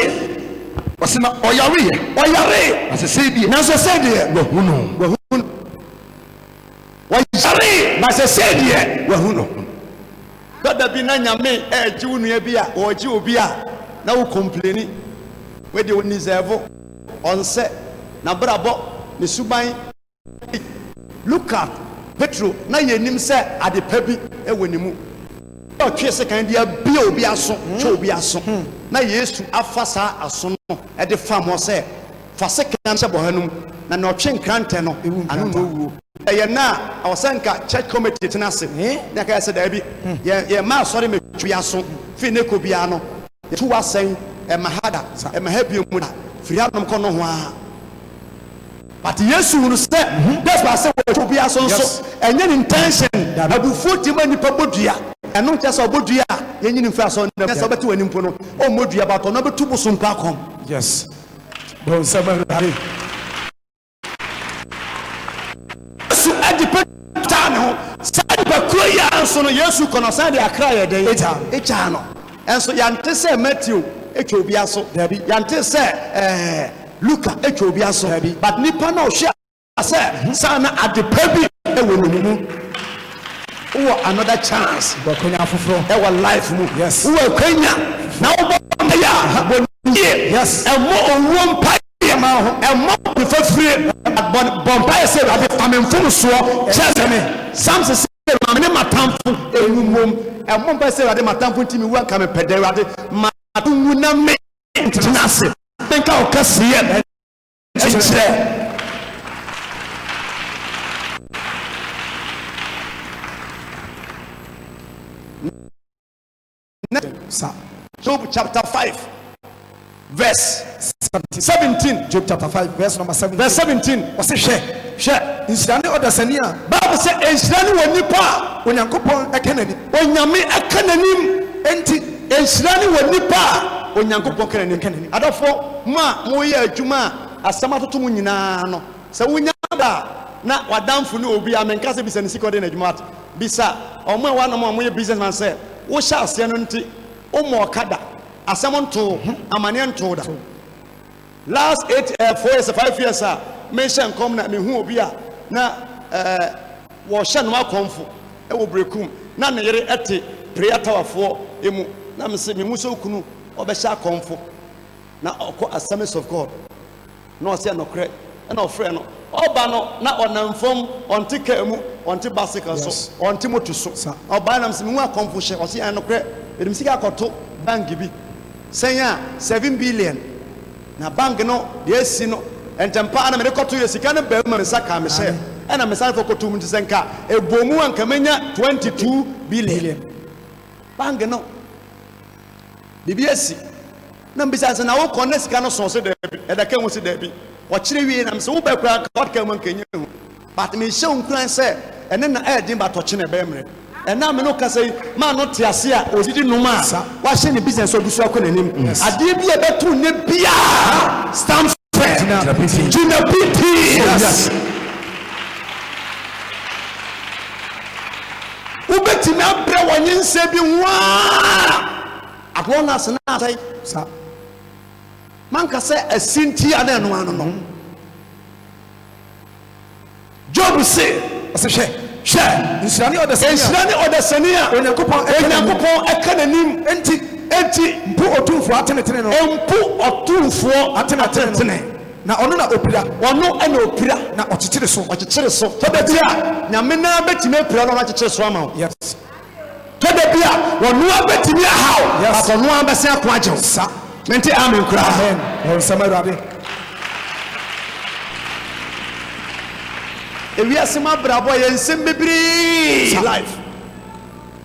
ɔse na ɔyare yɛ ɔyare na sesei deɛ na sesei deɛ wahunu wahunu Wɔyaree ma sesei deɛ wahu no ho. Ba da bi na Nyame ɛɛgye wo nua bi a ɔɔgye obi a na wo kompleni. Wei deɛ ɔnnizɛɛvo, ɔnsɛ, nabrabɔ, ne suban ei. Look at Petro na yɛnim sɛ ade pa bi wɔ ne mu. Ɛdeɛ ɔtwee sekan de abue obi aso, twɛ obi aso, na Yesu afa saa aso no de fam hɔ sɛ. Fa sekan hyɛ bɔha no mu na nea ɔtwe nkrantɛ no ano na owuo. Ɛyɛ nnɛ a, ɛwɔ sɛ nka church committee tena ase na ɛka sɛ daabi, yɛn yɛn mma asɔre mɛtwi yɛn aso firi nnɛ kɔ biara no, yɛtu wo asɛn, ɛmma ha da, ɛmma ha bio mu da, firi ha nom kɔ nohoaa. But Yesu hunu sɛ dɛ baa sɛ watwi obi aso nso ɛnyɛ ne intention. Abufuo ti ma nnipa bɔ dua. Ɛno nkyerɛ sɛ ɔbɔ dua a yɛnyi no mfiri asɔre no mu. Ɛnyɛ sɛ ɔbɛte w'ani mpo no ɔmmɔ dua but ɔno abɛtu bosom pa kɔm. Bonsam awurade Yesu de Petro taa ne ho. Saa nnipakuo yi ara nso no Yesu kɔ no ɔsan de akra yɛ dɛn? Egyaa no. Nso yɛnte sɛ Matthew twa obi aso, daabi. Yɛnte sɛ ɛɛ Luka twa obi aso, daabi. But nipa no a ɔhwɛ. sɛ saa na ade pa bi wɔ ne mu wowɔ another chance wakwanya foforɔ ɛwɔ life mu yes wowɔ akwanya na wobɔ mpaeɛ a bɔ nie yes ɛmmɔ owuo mpaeɛ ma ho ɛmmɔ nifa fire bɔ mpaeɛ sɛ awurade fa me mfomsoɔ kyerɛ sɛ me samson sɛ ma me ne matamfo ɛwu mmom ɛmmɔ mpaeɛ sɛ awurade matamfo nti mewu anka mepɛ dɛ awurade ma nwu na me ntena ase menka wo kɛseɛ Kyekyerɛ ne nsa. Job chapter five verse seventeen. Job chapter five verse number seventeen. Verse seventeen. Ɔsi hwɛ hwɛ nhyira ne ɔdasani a. Baabu sɛ nhyira ne wɔ nipa a. Onyankopɔn ɛka n'anim. Onyame ɛka n'anim. Enti. Nhyira ne wɔ nnipa a Onyankopɔn ka n'anim ka n'anim. Adɔfoɔ, mo a moyɛ adwuma a asɛm atoto mo nyinaa no, sɛ wonya da a na w'adamfo ne obi a menka sɛ bisa ne sika ɔde yɛ n'adwuma but bisa wɔn a ɛwɔ anom a wɔyɛ business man sɛ wohyɛ aseɛ no nti wommɔɔ ka da, asɛm ntoo ho, amaneɛ ntoo da. Last eight eh four years five years a me nhyɛ nkɔm na me hu obi a na eh wɔ hyɛ no akɔmfo wɔ brekum na ne yere ɛte prayer tower foɔ emu na me se me hu sɛ okunu ɔbɛ hyɛ akɔmfo na ɔkɔ assemblies of God na ɔse ɛnɔkorɛ ɛna ɔfrɛ no ɔba no na ɔnam fam ɔnte car mu ɔnte bicycle so yes ɔnte moto so sa ɔba na me se me hu akɔmfo hyɛ ɔse ɛnɔkorɛ mede me sika akɔto bank bi Sɛn a seven billion na bank no deɛ asi no ntɛmpa ara na mede kɔtoeɛ. Sika no baam ma me nsa kaa me sɛ ɛna mesane kɔ kɔtoom nti sɛ nka ɛbɔ mu a nka mɛnya twenty two billion. Bank no biribi asi na mebisa no sɛ na wokɔ na sika no soo ɔse daabi ɛda ka mu ɔse daabi ɔkyere wiei na mese wobɛ koraa nka ɔde ka mu a nka ɛnyɛ hu. But mehyɛ wo nkuran sɛ ɛnɛ na ɛyɛ den but ɔkyena ɛbɛyɛ mmerɛ. Ɛnɛ a me ne wo kasa yi, maa no te ase a ɔdidi nom a wahyɛ ne business a ɔgu so akɔ n'anim. Adeɛ bi a ɛbɛto wo nnɛ biara stands firm. Gyina pitinn. Wobɛtumi abrɛ wɔ nyensa bi ho ara at long as na asɛe. Manka sɛ asi nti a na ɛno ano no. Job se, Ɔse, Hwɛ, hwɛ, nhyira ne ɔdasani a. Nhyira ne ɔdasani a. Onyankopɔn ɛka n'anim. Onyankopɔn ɛka n'anim. Enti. Enti. Mpo Otumfoɔ atenetene no. Mpo Otumfoɔ atenetene. Na Ɔno na Opira. Ɔno na Opira. Na Ɔkyekyere so. Ɔkyekyere so. Hɔ da bi a. Nyame no ara betumi apira no na wakyekyere so ama wo. Yes. Tɔ da bi a, ɔno ara bɛtumi ahaw, but ɔno ara bɛsan ako agye wo. Sa. Mente amen koraa. Amen. Wɔ nsɛm Awurade. Ewiase mu abrabɔ yɛ nsɛm bebree. Life.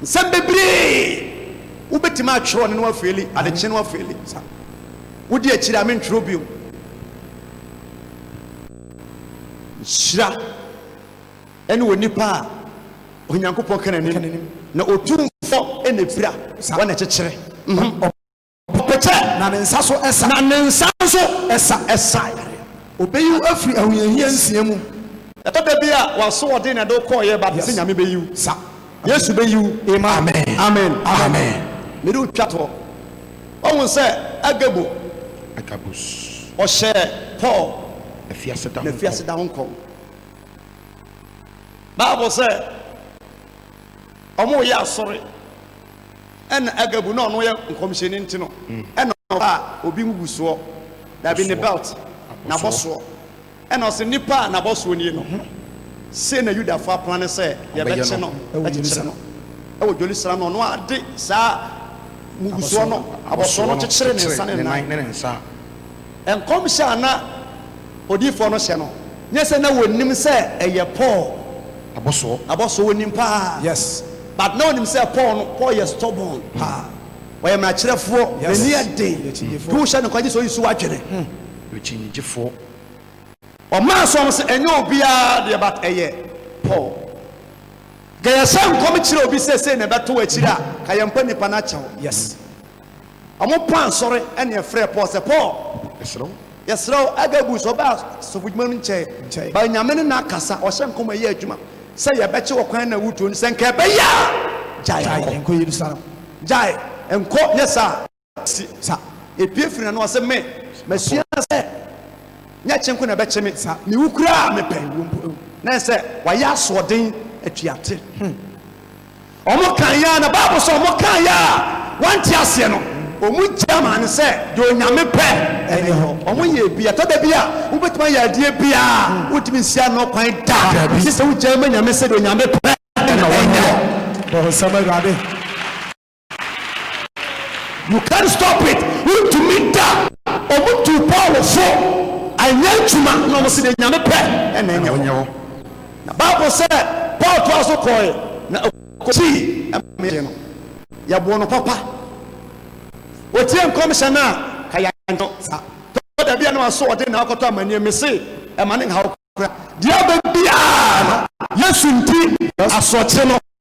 Nsɛm bebree. Wobɛtumi atwerɛ ɔne no afeeli, adekye no afeeli. Wodi akyiri a mentwerɛ bio. Nhyira. ɛne onipa a Onyankopɔn ka n'anim, na Otumfo na efira, wɔn na ɛkyekyere, mhm, ɔpɛkyɛ, na ne nsa so ɛsa, na ne nsa so ɛsa, ɛsa yareɛ, obeyi wo afiri ahohiahia nsia mu. Ɛtɔ da bi a w'asoɔden na ɛde wo kɔɔeɛ ba te sɛ Nyame beyi wo, sa, Yesu beyi wo, amen, amen, amen, amen. Mede wo twa toɔ. Wahu sɛ Agabo, Agabus, ɔhyɛɛ Paul, afiase da ho nkɔm, afiase da ho nkɔm. Bible sɛ ɔmo yɛ asɔre ɛna agabu na ɔno yɛ nkɔmhyɛni nti no ɛna mm. ɔba a obi ngugu soɔ dabi ne belt nabɔ soɔ ɛna ɔsɛ nipa a nabɔ soɔ nie no mhm. sei na yudafoɔ aplan ne sɛ yɛbɛkye no akyekyere no ɛwɔ dwoli sra no ɔno ade saa mugusoɔ no abɔsoɔ no kyekyere ne nsa ne nan nkɔmhyɛ a na Odiyifoɔ no hyɛ no nyɛ sɛ na ɔnim sɛ ɛyɛ Paul abɔsoɔ abɔsoɔ ɔnim paa yes but na ɔnim sɛ Paul no Paul yɛ stubborn paa ɔyɛ mmarakyerɛfoɔ n'ani yɛ den nti wohyɛ no nka gye sɛ ɔyi so w'adwene hmm ɔkyinnyegyefoɔ ɔmaa so ɔmo sɛ ɛnyɛ obiara deɛ but ɛyɛ Paul ka yɛhyɛ nkɔm kyerɛ obi sɛ sei na ɛbɛto w'akyiri a ka yɛmpɛ nipa no akyɛw yes. Wɔpaa asɔre ne ɛfrɛɛ Paul sɛ, Paul, yɛsrɛ wo, Agabus, ɔbaa asɔfodwuma no nkyɛe, baa Nyame ne no akasa, ɔhyɛɛ nkɔm a ɛyɛ adwuma sɛ yɛbɛkye wɔ kwan na wutuo no, sɛ nka ɛbɛyɛ a, gyae nkɔ Yerusalem, gyae nkɔ, nyɛ saa a, yɛpue firi n'ano. Ɔse, Me, masua sɛ nyɛ kye nko na ɛbɛkye me, me wu koraa a mepɛ, na ɛsɛ wayɛ asoɔden, atuate. Wɔkaeɛ ara, na Bible sɛ wɔkaeɛ a wɔnte aseɛ no, wɔgyaa maa no sɛ deɛ Onyame pɛ ne hɔ. Wɔyɛɛ bi. Ɛtɔ da bi a, wobɛtumi ayɛ adeɛ bi a wontumi nsi ano kwan da, gye sɛ wogyaa ma Nyame sɛ deɛ Onyame pɛ na ɛnyɛ. Bonsam Awurade. You can't stop it, wontumi da. Wɔn tuu Paul fo, anyɛ adwuma. Na wɔn se deɛ Nyame pɛ na ɛnyɛ hɔ. Na Bible sɛ Paul toa so kɔɔɛ na ɔkɔsii ɛmɛɛ no yɛboo no papa. Otie nkɔmhyɛ no a ka yɛankyɛ sa. Tɔ da bi a na waso ɔde na akɔtɔ amaneɛ me se ɛma ne nhaw kora. Deɛ aba biara no Yesu nti asoɔkye no.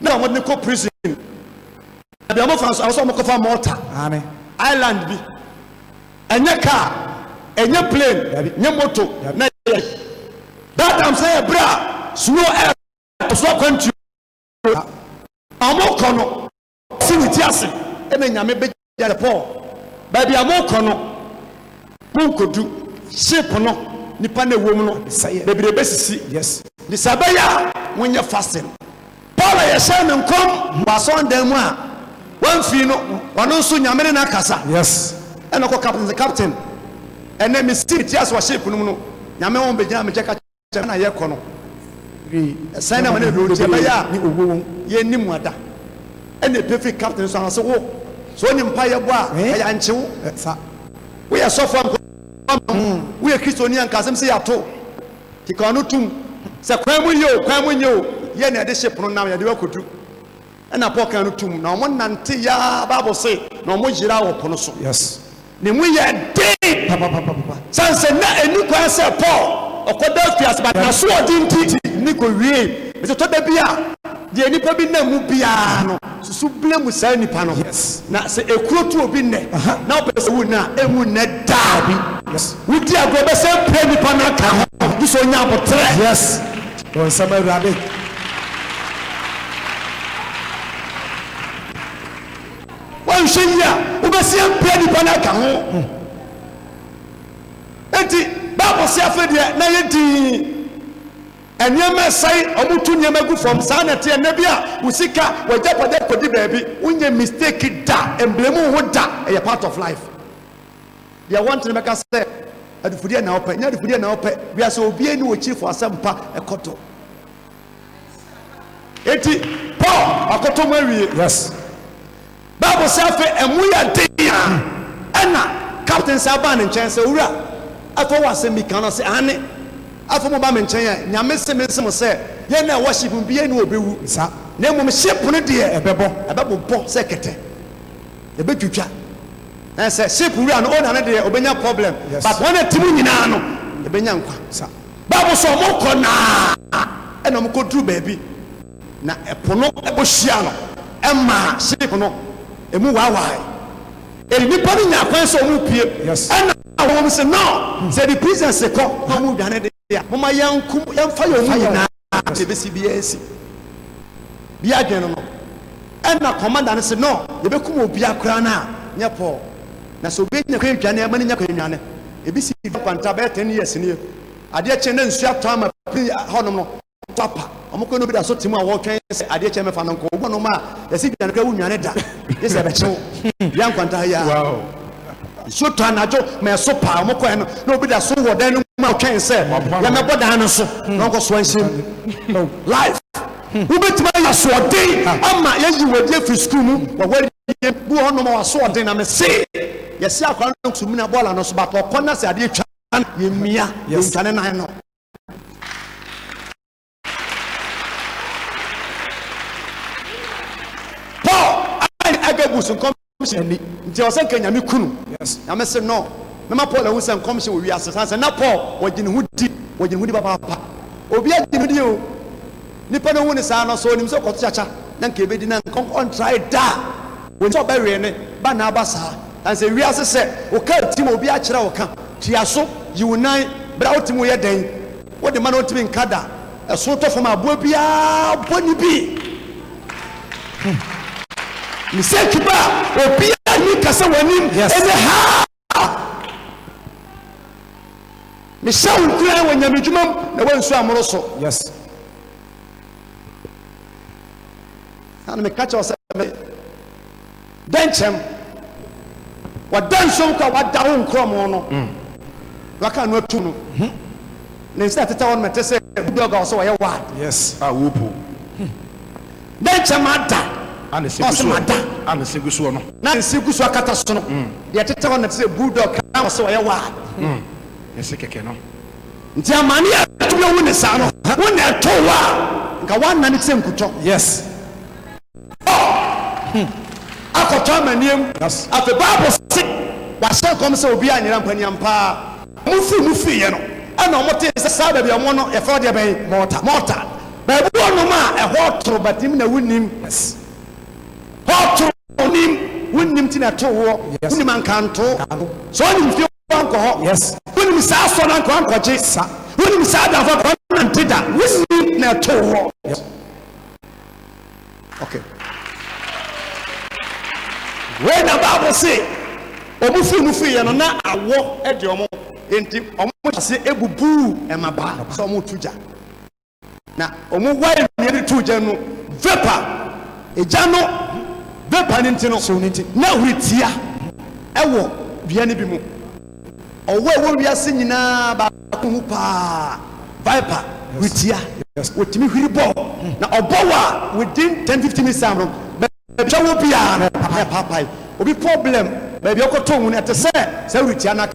na wɔde no kɔ prison baabi a wɔfa nso awosɔ wɔkɔfa mɔta island bi ɛnyɛ car ɛnyɛ plane nyɛ moto na yɛ that time sɛ yɛ berɛ a snow air ɛso akwantuo a wɔkɔ no si ne ti ase ɛna nyame bɛgye Yɛrɛ Paul, baabi a morekɔ no, monkodu ship no, nnipa no a ɛwom no bebree bɛsisi. Yes. Nti sɛ ɛbɛyɛ a monyɛ fasting. Paul a yɛhyɛɛ no nkɔm wɔ asɔɔdan mu a wamfiri no, ɔno nso Nyame ne no akasa. Yes. Ɛna ɔkɔ captain sɛ, Captain, ɛnnɛ mesisi me ti ase wɔ ship no mu no, Nyame wɔn bɛgyinaa me nkyɛn ka Sɛnea na yɛkɔ no bi sɛn na ma ne duro nti ɛbɛyɛ a ne owuo wom yɛn ni mu ada ɛna ɛpie firi captain so anase wo sɛ ɔne mpa yɛ bɔ a ɛyɛ ankye wo sa wo yɛ sɔfo a nkɔ ama wo wo yɛ kristo ni a nka asɛm sɛ yɛ ato ti ka ɔno tum sɛ kwan mu yɛ o kwan mu nyɛ o yɛ na yɛde hye pono nam yɛde wakɔdu. Ɛna Paul kan no to mu, na wɔn nante yɛ ara Bible se, na wɔn yeraa wɔ po no so. Yes. Ne mu yɛ den papapapapa. Sane sɛ na ɛnni kwan sɛ Paul ɔkɔ da afiase, but n'asoɔden nti ne kɔ wiee. Ɛsɛ tɔ da bi a deɛ nnipa bi nam mu biara no susu bile mu saa nnipa no. Yes. Na sɛ ekuro tu obi nnɛ, na ɔpɛ sɛ wu na ɛnwu nnɛ daa bi. Yes. Wodi agorɔ bɛsɛ pira nnipa no aka ho, gye sɛ ɔnya aboterɛ. Yes. Wo nsam Awurade. Woanhwɛ yie a, wobɛsi ampia nnipa no aka ho. Enti Bible se afei deɛ na yɛ dinn. Nneɛma ɛsɛe, wɔtu nneɛma gu fam, saa na ɛteɛ. Nna bi a wo sika, w'agyapadeɛ kɔdi baabi, wonyɛ mistake da, mmrɛ mu ho da, ɛyɛ part of life. Deɛ wɔnte no bɛka sɛ, Adufudeɛ na wopɛ, nyɛ adufudeɛ na wopɛ. Wiase obiara ni wɔkyirifo asɛmpa ɛkɔtɔ. Eti Paul ɔkoto mu awie. Yes. Bible sɛ afei ɛmu yɛ den a hmm. ɛna captain sɛ abaa ne nkyɛn sɛ owura afei wɔ asɛm bi kan no sɛ ane afei mo ba me nkyɛn a nyame se me nse mo sɛ yɛn na ɛwɔ ship mu bi yɛn na ɔbɛwu na mmom ship no deɛ ɛbɛbɔ ɛbɛbobɔ sɛ kɛtɛ Ebetwitwa ɛn sɛ ship wura no o na ne deɛ obenya problem but wɔn a ɛte mu nyinaa no ebenya nkwa sa bible sɛ wɔn kɔ naa ɛna wɔn kɔ duru baabi na ɛpo no ɛbɔ hyia no ɛmaa ship no emu waawaae eri nnipa no nyaa kwan sɛ wɔn pue ɛna wɔn se no sɛ ɛde prisoners kɔ na wɔn dwane deɛ a moma yɛn nko yɛn fa yɛn mu nyinaa. a yɛbɛsi biara asi. Bia adwene no no, ɛna kɔmanda no se no yɛbɛkum obia koraa no a nyɛ Paul. Na sɛ obia nya kwan dwane a ma no nya kwan nwane. Ebi sii dua kwanta bɛyɛ ten years nie. Adeɛ kye na nsuo atɔ ama pini hɔnom no so apa. Wɔn kɔ na obi da so te mu a wɔretwɛn sɛ adeɛ kye mɛfa no nkɔ. Obi wɔ nom a yɛsi dwane koraa wonwane da gyesɛ ɛbɛkye wo. Dua nkwanta ha yi ara. Nsuo tɔ anadwo ma ɛso paa. Wɔn kɔɛ no na obi da so wɔ dan no mu a ɔtwɛn sɛ yɛmɛbɔ dan no so hmm. na ɔnkɔ so anhyɛ mu. Oh, life. Hmm. Wobɛtumi ayɛ asoɔden ama yɛyi wɔadi afiri sukuu mu wɔwɔ yie bu hɔ nom asoɔden na mese yɛsi akora no nsumina bɔɔla no so but ɔkɔ na sɛ adeɛ twa yɛmmia yɛntwane nan no paul ane agabus nkɔmhyɛ ani nti ɛwɔ sɛ nka nyame kunu nyame se no mɛma paul ahu sɛ nkɔmhyɛ wɔ wiase san sɛ na paul wɔgye ne ho di wɔgye ne ho di papaapa obi agye ne ho di o nipa no hu ne saa no so onim sɛ ɔkɔto kyakya na nka ebedi na nka ɔntrae da wɔn sɛ ɔbɛwee ne ba na aba saa san sɛ wiase sɛ ɔka ti ma obi akyerɛ ɔka tua so yiw nan bra wotim woyɛ dɛn Wo de ma no ɔntumi nka da. Ɛso tɔ fam a aboa biara bɔ ne bi. Mistake ba a obiara ntumi nka sɛ w'anim ne ha. Mehyɛ wo nkuran wɔ nyamedwuma mu na woansu amoro so. Na meka kyerɛ wo sɛ me. Dɛ nkyɛm wɔda nsuom kɔ a wɔada wo nkorɔmo no, wɔaka ano atum no, ne nsa a ɛtetɛ hɔ no ma ɛte sɛ bulldog a ɔsɛ ɔyɛ wad. Yes, a wopow. Dɛ nkyɛ mada, A ne se gu ɔse soɔ, mada, a ne se gu soɔ no. na ne nse gu so akata so no, deɛ ɛtetɛ hɔ no na ɛte sɛ bulldog a ɔsɛ ɔyɛ wad. Ne se kɛkɛ no. Nti amane a ɛtumi awu ne saa no, wo na ɛtoo wo a, nka woanane te sɛ nkutɔ. Yes. Ɔɔ hmm akɔtɔ amanneɛm. Afei Bible se wɔahyɛ nkɔm sɛ obiara nyera mpa ni ampa ara wɔn firi mu firi yɛ no ɛna wɔn tee sɛ saa baabi a wɔwɔ no yɛfrɛ hɔ deɛ bɛn Malta Malta baabi wɔ nom a ɛhɔ toro but nim na wonim hɔ toro nim wonim ti na ɛto woɔ wonim ankantoo sɛ ɔnim fie wankɔ hɔ yes wonim saa asɔ no anka wankɔgye sa wonim saa adafo anka wanante da wonim na ɛtoo hɔ yes okay wei na bible se ɔmo firi mu firiiɛ no na awɔ de ɔmo nti ɔmo hyɛ ase ebubuu ɛmabaa sɛ ɔmo tu gya Na wɔn wae nua no too gya no vapor, egya no vapor no nti no, so no nti, na huri tia ɛwɔ dua no bi mu. Ɔwɔ ɛwɔ wiase nyinaa baako ho paa, viper, huri tia. Wɔtumi huri bɔ, na ɔbɔ wɔ a within 10-15 minutes time no, baabi a wɔ biara no, ɛpaapae. Obi problem, baabi a ɔkɔtoo mu no, ɛte sɛ saa huri tia no aka.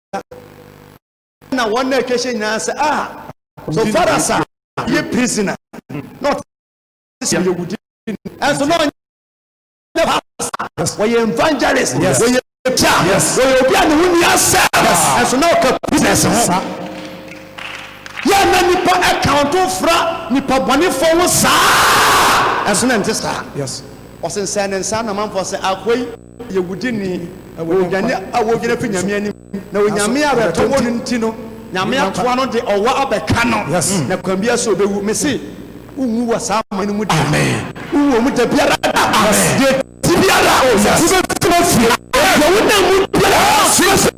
na wɔn na atwa ahyɛ nyinaa sɛ ah so far as a yɛ prisoner na ɔte sɛ yɛ wudi ɛnso na ɔnyɛ pastor wɔyɛ evangelist wɔyɛ pia wɔyɛ obi a ne ho ni asɛ ɛnso na ɔka business ho yɛ na nipa account fra nipa bɔnefo ho saa ɛnso na ɛnte saa ɔsensɛn ne nsa na manfo sɛ akwai yɛ wudini, onyane a wodwane fi Nyame anim, na onyame a awerɛtɔ wɔ no nti no Nyame ato ano de ɔwɔ abɛka no, na kwan biara so obewu. Mese, wunwu wɔ saa amane no mu da, wunwu wɔ mu da biara da, na deɛ ɛte biara, wobɛfiri deɛ wonam mu biara.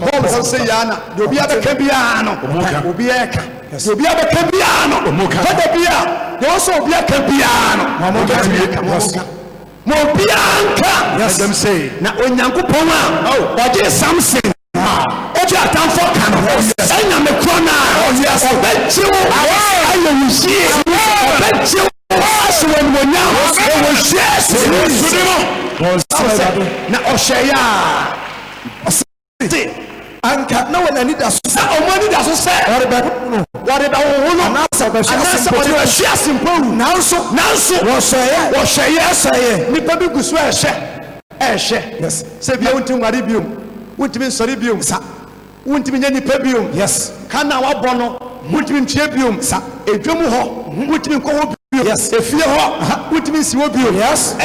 Paul san sɛ yɛa na deɛ obiara bɛka biara no obiara ɛka deɛ obiara bɛka biara no fada bi a deɛ ɔsɛ obiara ka biara no ɔbɛtumi aka ma ɔka ma obiara nka na onyankopɔn a ɔgye samson ɔgye atamfo ka no ɛnyame korɔ no a ɔbɛgye wo ayɛ wo yie ɔbɛgye wo ahyɛ wɔ animonyam wɔ yesu kristo na ɔhyɛ yɛ a Ɔse anka na wɔn anidaso sɛ. Wɔn anidaso sɛ. Wɔrebɛhunu no. Wɔrebɛhunu no. Anaasɛ wɔbɛhwe ase mpo. Anaasɛ wɔbɛhwe ase mpo awu. Nanso. Nanso. Wɔhwɛeɛ. Wɔhwɛeɛ. Wɔhwɛeɛ. Nnipa bi gu so rehwɛ. Rehwɛ. Yes. Sɛ bia wontumi nware bio. Wontumi nsɔre bio. Sa. Wontumi nyɛ nnipa bio. Yes. Ka na wabɔ no. Wontumi ntua bio. Sa. Edwam hɔ. Wontumi nkɔ hɔ bio. Yes. Efie hɔ. Wontumi nsi hɔ bio. Yes.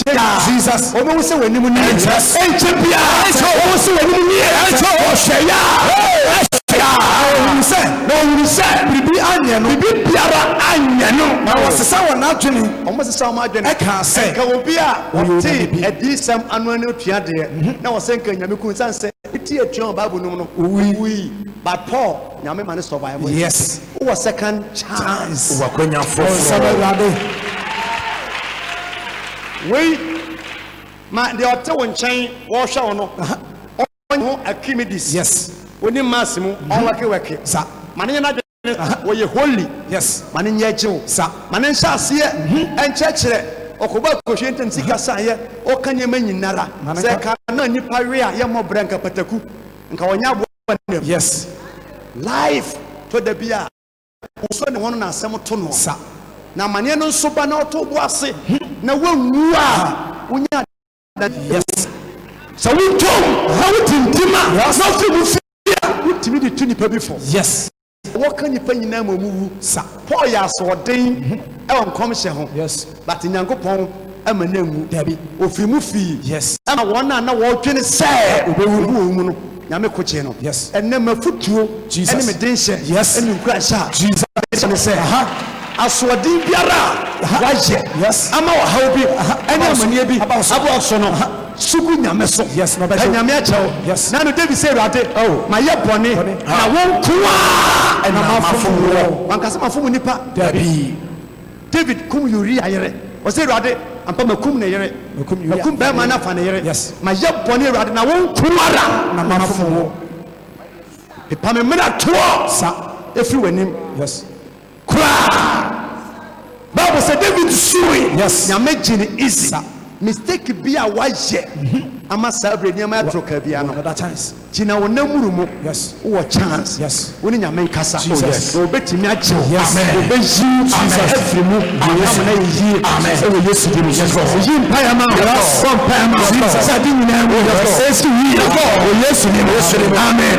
Kyɛ biara wɔbɛhu sɛ w'anim nie. Ɛnkyɛ biara wɔbɛhu sɛ w'anim nie. Wɔhwɛ yɛ a, wɔhwɛ yɛ a, na wɔhunu sɛ, na wɔhunu sɛ biribi anyɛ no, biribi biara anyɛ no. Na wɔsesa wɔn adwene, wɔsesa wɔn adwene, kaa sɛ, Nka obi a ɔte adiyisɛm ano no atua deɛ, na ɔsɛ nka Nyame kum no, sane sɛ ne ti atua wɔ Bible no mu no, ɔwui. But Paul. Nyame ma no survive ɛ. Yes. Wo wɔ second chance. Wo wɔ akwanya foforɔ. Bonsam awurade. Wei ma deɛ ɔte wo nkyɛn wɔhwɛ wo no ɔnyɛ ho akimides. Yes. Ɔnim mass mu mhm. ɔwɛke wɛke. Sa. Ma ne nyɛ n'adwene wɔyɛ holy. Yes. Ma ne nyɛ gyew. Sa. Ma ne nhyɛ aseɛ mhm. ɛnkyerɛkyerɛ ɔkɔbɔ akɔhwie ntɛm sika sa yɛ ɔka nneɛma nyinara sɛ ka na nipa we a yɛ mmɔbrɛ nka pataku nka wɔnyɛ aboa wɔ ne yes life tɔ da bi a wosɔ ne ho no na asɛm to no sa na amaneɛ no nso ba na ɔto bo ase na wanwu a wonya da yes sɛ wotom na wotintim a na wofiri mu fie a wotumi de tu nipa bi fo yes Wɔka nnipa nyinaa ma wɔwu sa. Paul yɛ asoɔden wɔ nkɔmhyɛ ho, but Nyankopɔn amma no anwu. Ɔfiri mu fii, ɛna wɔn a na wɔredwene sɛ ɔbɛwu wɔn mu no, Nyame ko gyee no. Ɛnnɛ m'afotuo ne me denhyɛ ne me nkuranhyɛ a mede ba ne sɛ, asoɔden biara a wɔayɛ ama ɔhaw bi ne amaneɛ bi aba wo so no, So gu Nyame so pɛ Nyame akyɛ wo na no David sɛ Awurade ma yɛ bɔne na wo nkoaa na ma fom woɔ wanka sɛ ma fom nipa dabii David kum Uria yere ɔsɛ Awurade ampa ma kum ne yere ma kum bɛɛma no afa ne yere ma yɛ bɔne Awurade na wo nkoara na ma fom wo pepa me mena toɔ sa ɛfiri wanim. koraa bible sɛ david suui nyame gye ne easy sa mistake bi a wayɛ ama saa berɛ nneɛma ɛtoro kaa bia no gyina wo namuru mu wowɔ chance wo ne nyame nkasa oh, na obɛtumi agye wo obɛyi afiri mu ayam na yɛyie ɛwɔ yesu di mu yi mpaeɛ ma bɔ mpaeɛ ma sɛ ade nyinaa mu ɛsi wie wɔ yesu di mu amen